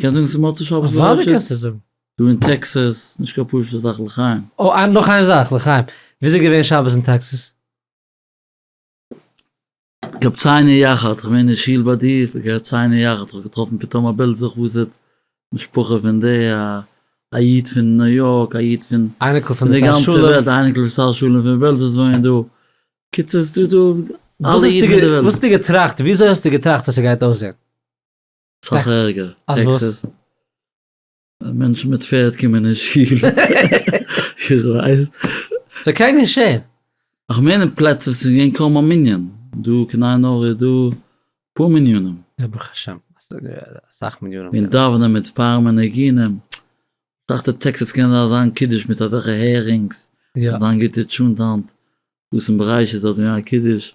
קענסט זאגן ס'איז מוצאי שבת בראשית? אוודאי קענסטו זאגן. דא אין טעקסעס, נישט קיין פשוט'ע זאך לחיים. אוי, אה, נאך איין זאך לחיים. וויאזוי איז געווען שבת אין טעקסעס? געהאט ציין יחד, כ'בין געווען אין שול ביי דיר, געהאט ציין יחד, כ'האב געטראפן פתאום א בילד זיך וואס איז משפחה פון די א א איד פון ניו יארק, א איד פון אייניקל פון די שר שלום, די גאנצע אייניקל פון שר שלום פון בעלזא וואוינען דא, קיצור ס'דא דא אלע אידן פון די וועלט. וואס האסטו געטראכט, וויאזוי האסטו געטראכט אז ס'גייט אויסזען? סאך ערגער, טעקסעס, מענטשן מיט פערד קומען אין שול, איך ווייס. ס'זאל קענען געשען. איך מיין אין פלעצער וואס ס'איז געווען קוים א מנין, דא קנאי נאר איז דא אפאר מנינים. יא ברוך השם, אסאך מנינים. און דאווענען מיט פאר מנגינים, כ'דאכט אין טעקסעס קען זיין זיין קידוש מיט אזעלכע הערינגס, זיין גוטע טשונט היינט, וואס אין בראשית האט געווען א קידוש,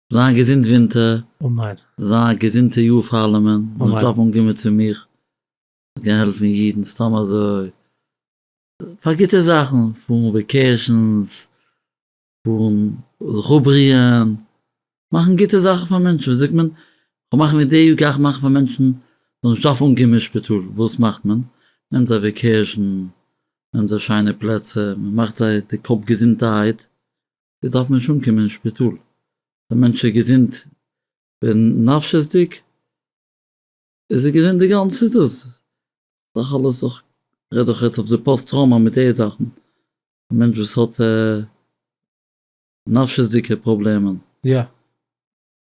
זיי געזונט ווינטער. אמן. זיי א געזונטע יאר פארלעמען. אמן. מ'זאל שטאפן אנקומען צו מיך. מ'קען העלפן אידן סתם אזוי. פאר גוטע זאכן. פארן וועקעישאנס. פארן זיך אפבריען. מאכן גוטע זאכן פאר מענטשן. ווי זאגט מען? כ'וועל מאכן ווי די יאר גיי איך מאכן פאר מענטשן זאלן נישט דארפן אנקומען אין שפיטאל. וואס מאכט מען? נעמט זיי וועקעישאן. נעמט זיי שיינע פלעצער. מ'מאכט זיי די קאפ געזונטערהייט. זי דארף נישט אנקומען אין שפיטאל, דער מענטש איז געזונט ווען נפשית'דיג איז ער געזונט די גאנצע איז דאס דאך אלעס דאך רעד דאך יעצט אויף די פאסט טראומא מיט די זאכן א מענטש וואס האט נפשית'דיגע פראבלעמען. יא.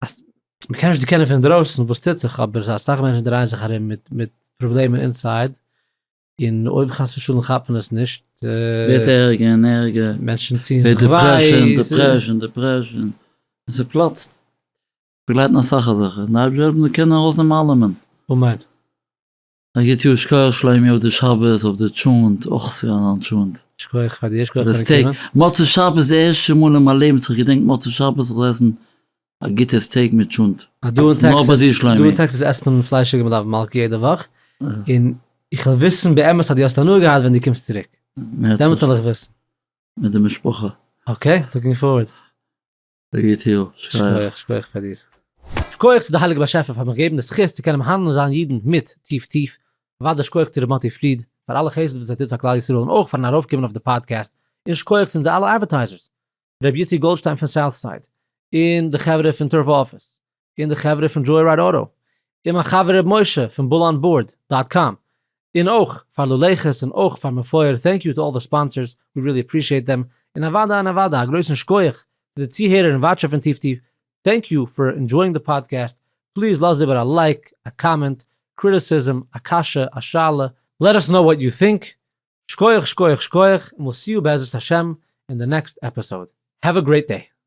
אז מ'קען נישט דערקענען פון אינדרויסן וואס טוט זיך, אבער ס'איז אסאך מענטשן דרייען זיך ארום מיט מיט פראבלעמען אינסייד, און אויב חס ושלום כאפט מען עס נישט, ווערט ערגער און ערגער, מענטשן טוען זיך וויי, דעפרעשאן, דעפרעשאן, און ס'פלאצט, ס'באגלייטן אסאך אזעלכע, און די אייבערשטער זאל האבן די קענען ארויסנעמען אלעמען. אמן. א גוט יאר שכוח שלומי אויף די שבת אויף די טשולענט אויך ס'געווען אזא טשולענט. שכוח פאר די אשכול פון די קרן. מוצאי שבת די ערשטע מאל אין מיין לעבן וואס איך געדענק מוצאי שבת זיך עסן א גוטע סטעיק מיט טשולנט. אז דא אין טעקסעס עסט מען פליישיגע מלאף מלכה יעדע וואך, און איך וויל וויסן באמת אז דו האסט הנאה געהאט ווען דו קומסט צוריק, דעמאלטס זאל איך וויסן. מיט די משפחה. אקעי, לוקינג פארווארד. ר' יעטיל, שכוח. שכוח פאר דיר. שכוח צו די הייליגע באשעפער פאר מיך געבן די זכות צו קענען מהנה זיין אידן מיט טיף טיף, אוודאי שכוח צו ר' מאטי פריד פאר אלע חסד וואס ער טוט פאר כלל ישראל און אויך פארן ארויפקומען אויף די פאדקעסט, און שכוח צו אונזער אלע אדווערטייזערס, ר' איציק גאלדשטיין פון סאוטסייד, און די חברה פון טורבא אפיס, און די חברה פון דזשוי רייד אוטא, און מיין חבר ר' משה פון בול אן בארד דאט קאם, און אויך פאר לולעכעס און אויך פאר מפואר טענק יו טו אלל די ספאנסערס ווי רילי אפרישיעט דעם, און אוודאי און אוודאי א גרויסן שקויעך צו די צוהערער און וואטשער פון טיב טיב, טענק יו פאר ענדזשויאינג די פאדקעסט, פליז לאז איבער א לייק, א קאמענט, קריטיסיזם, א קשיא, א שאלה, לעט אס נאו וואט יו טינק, שקויעך שקויעך שקויעך, און וויל סי יו בעזרת השם אין די נעקסט עפיסאוד, העוו א גרעיט דעי.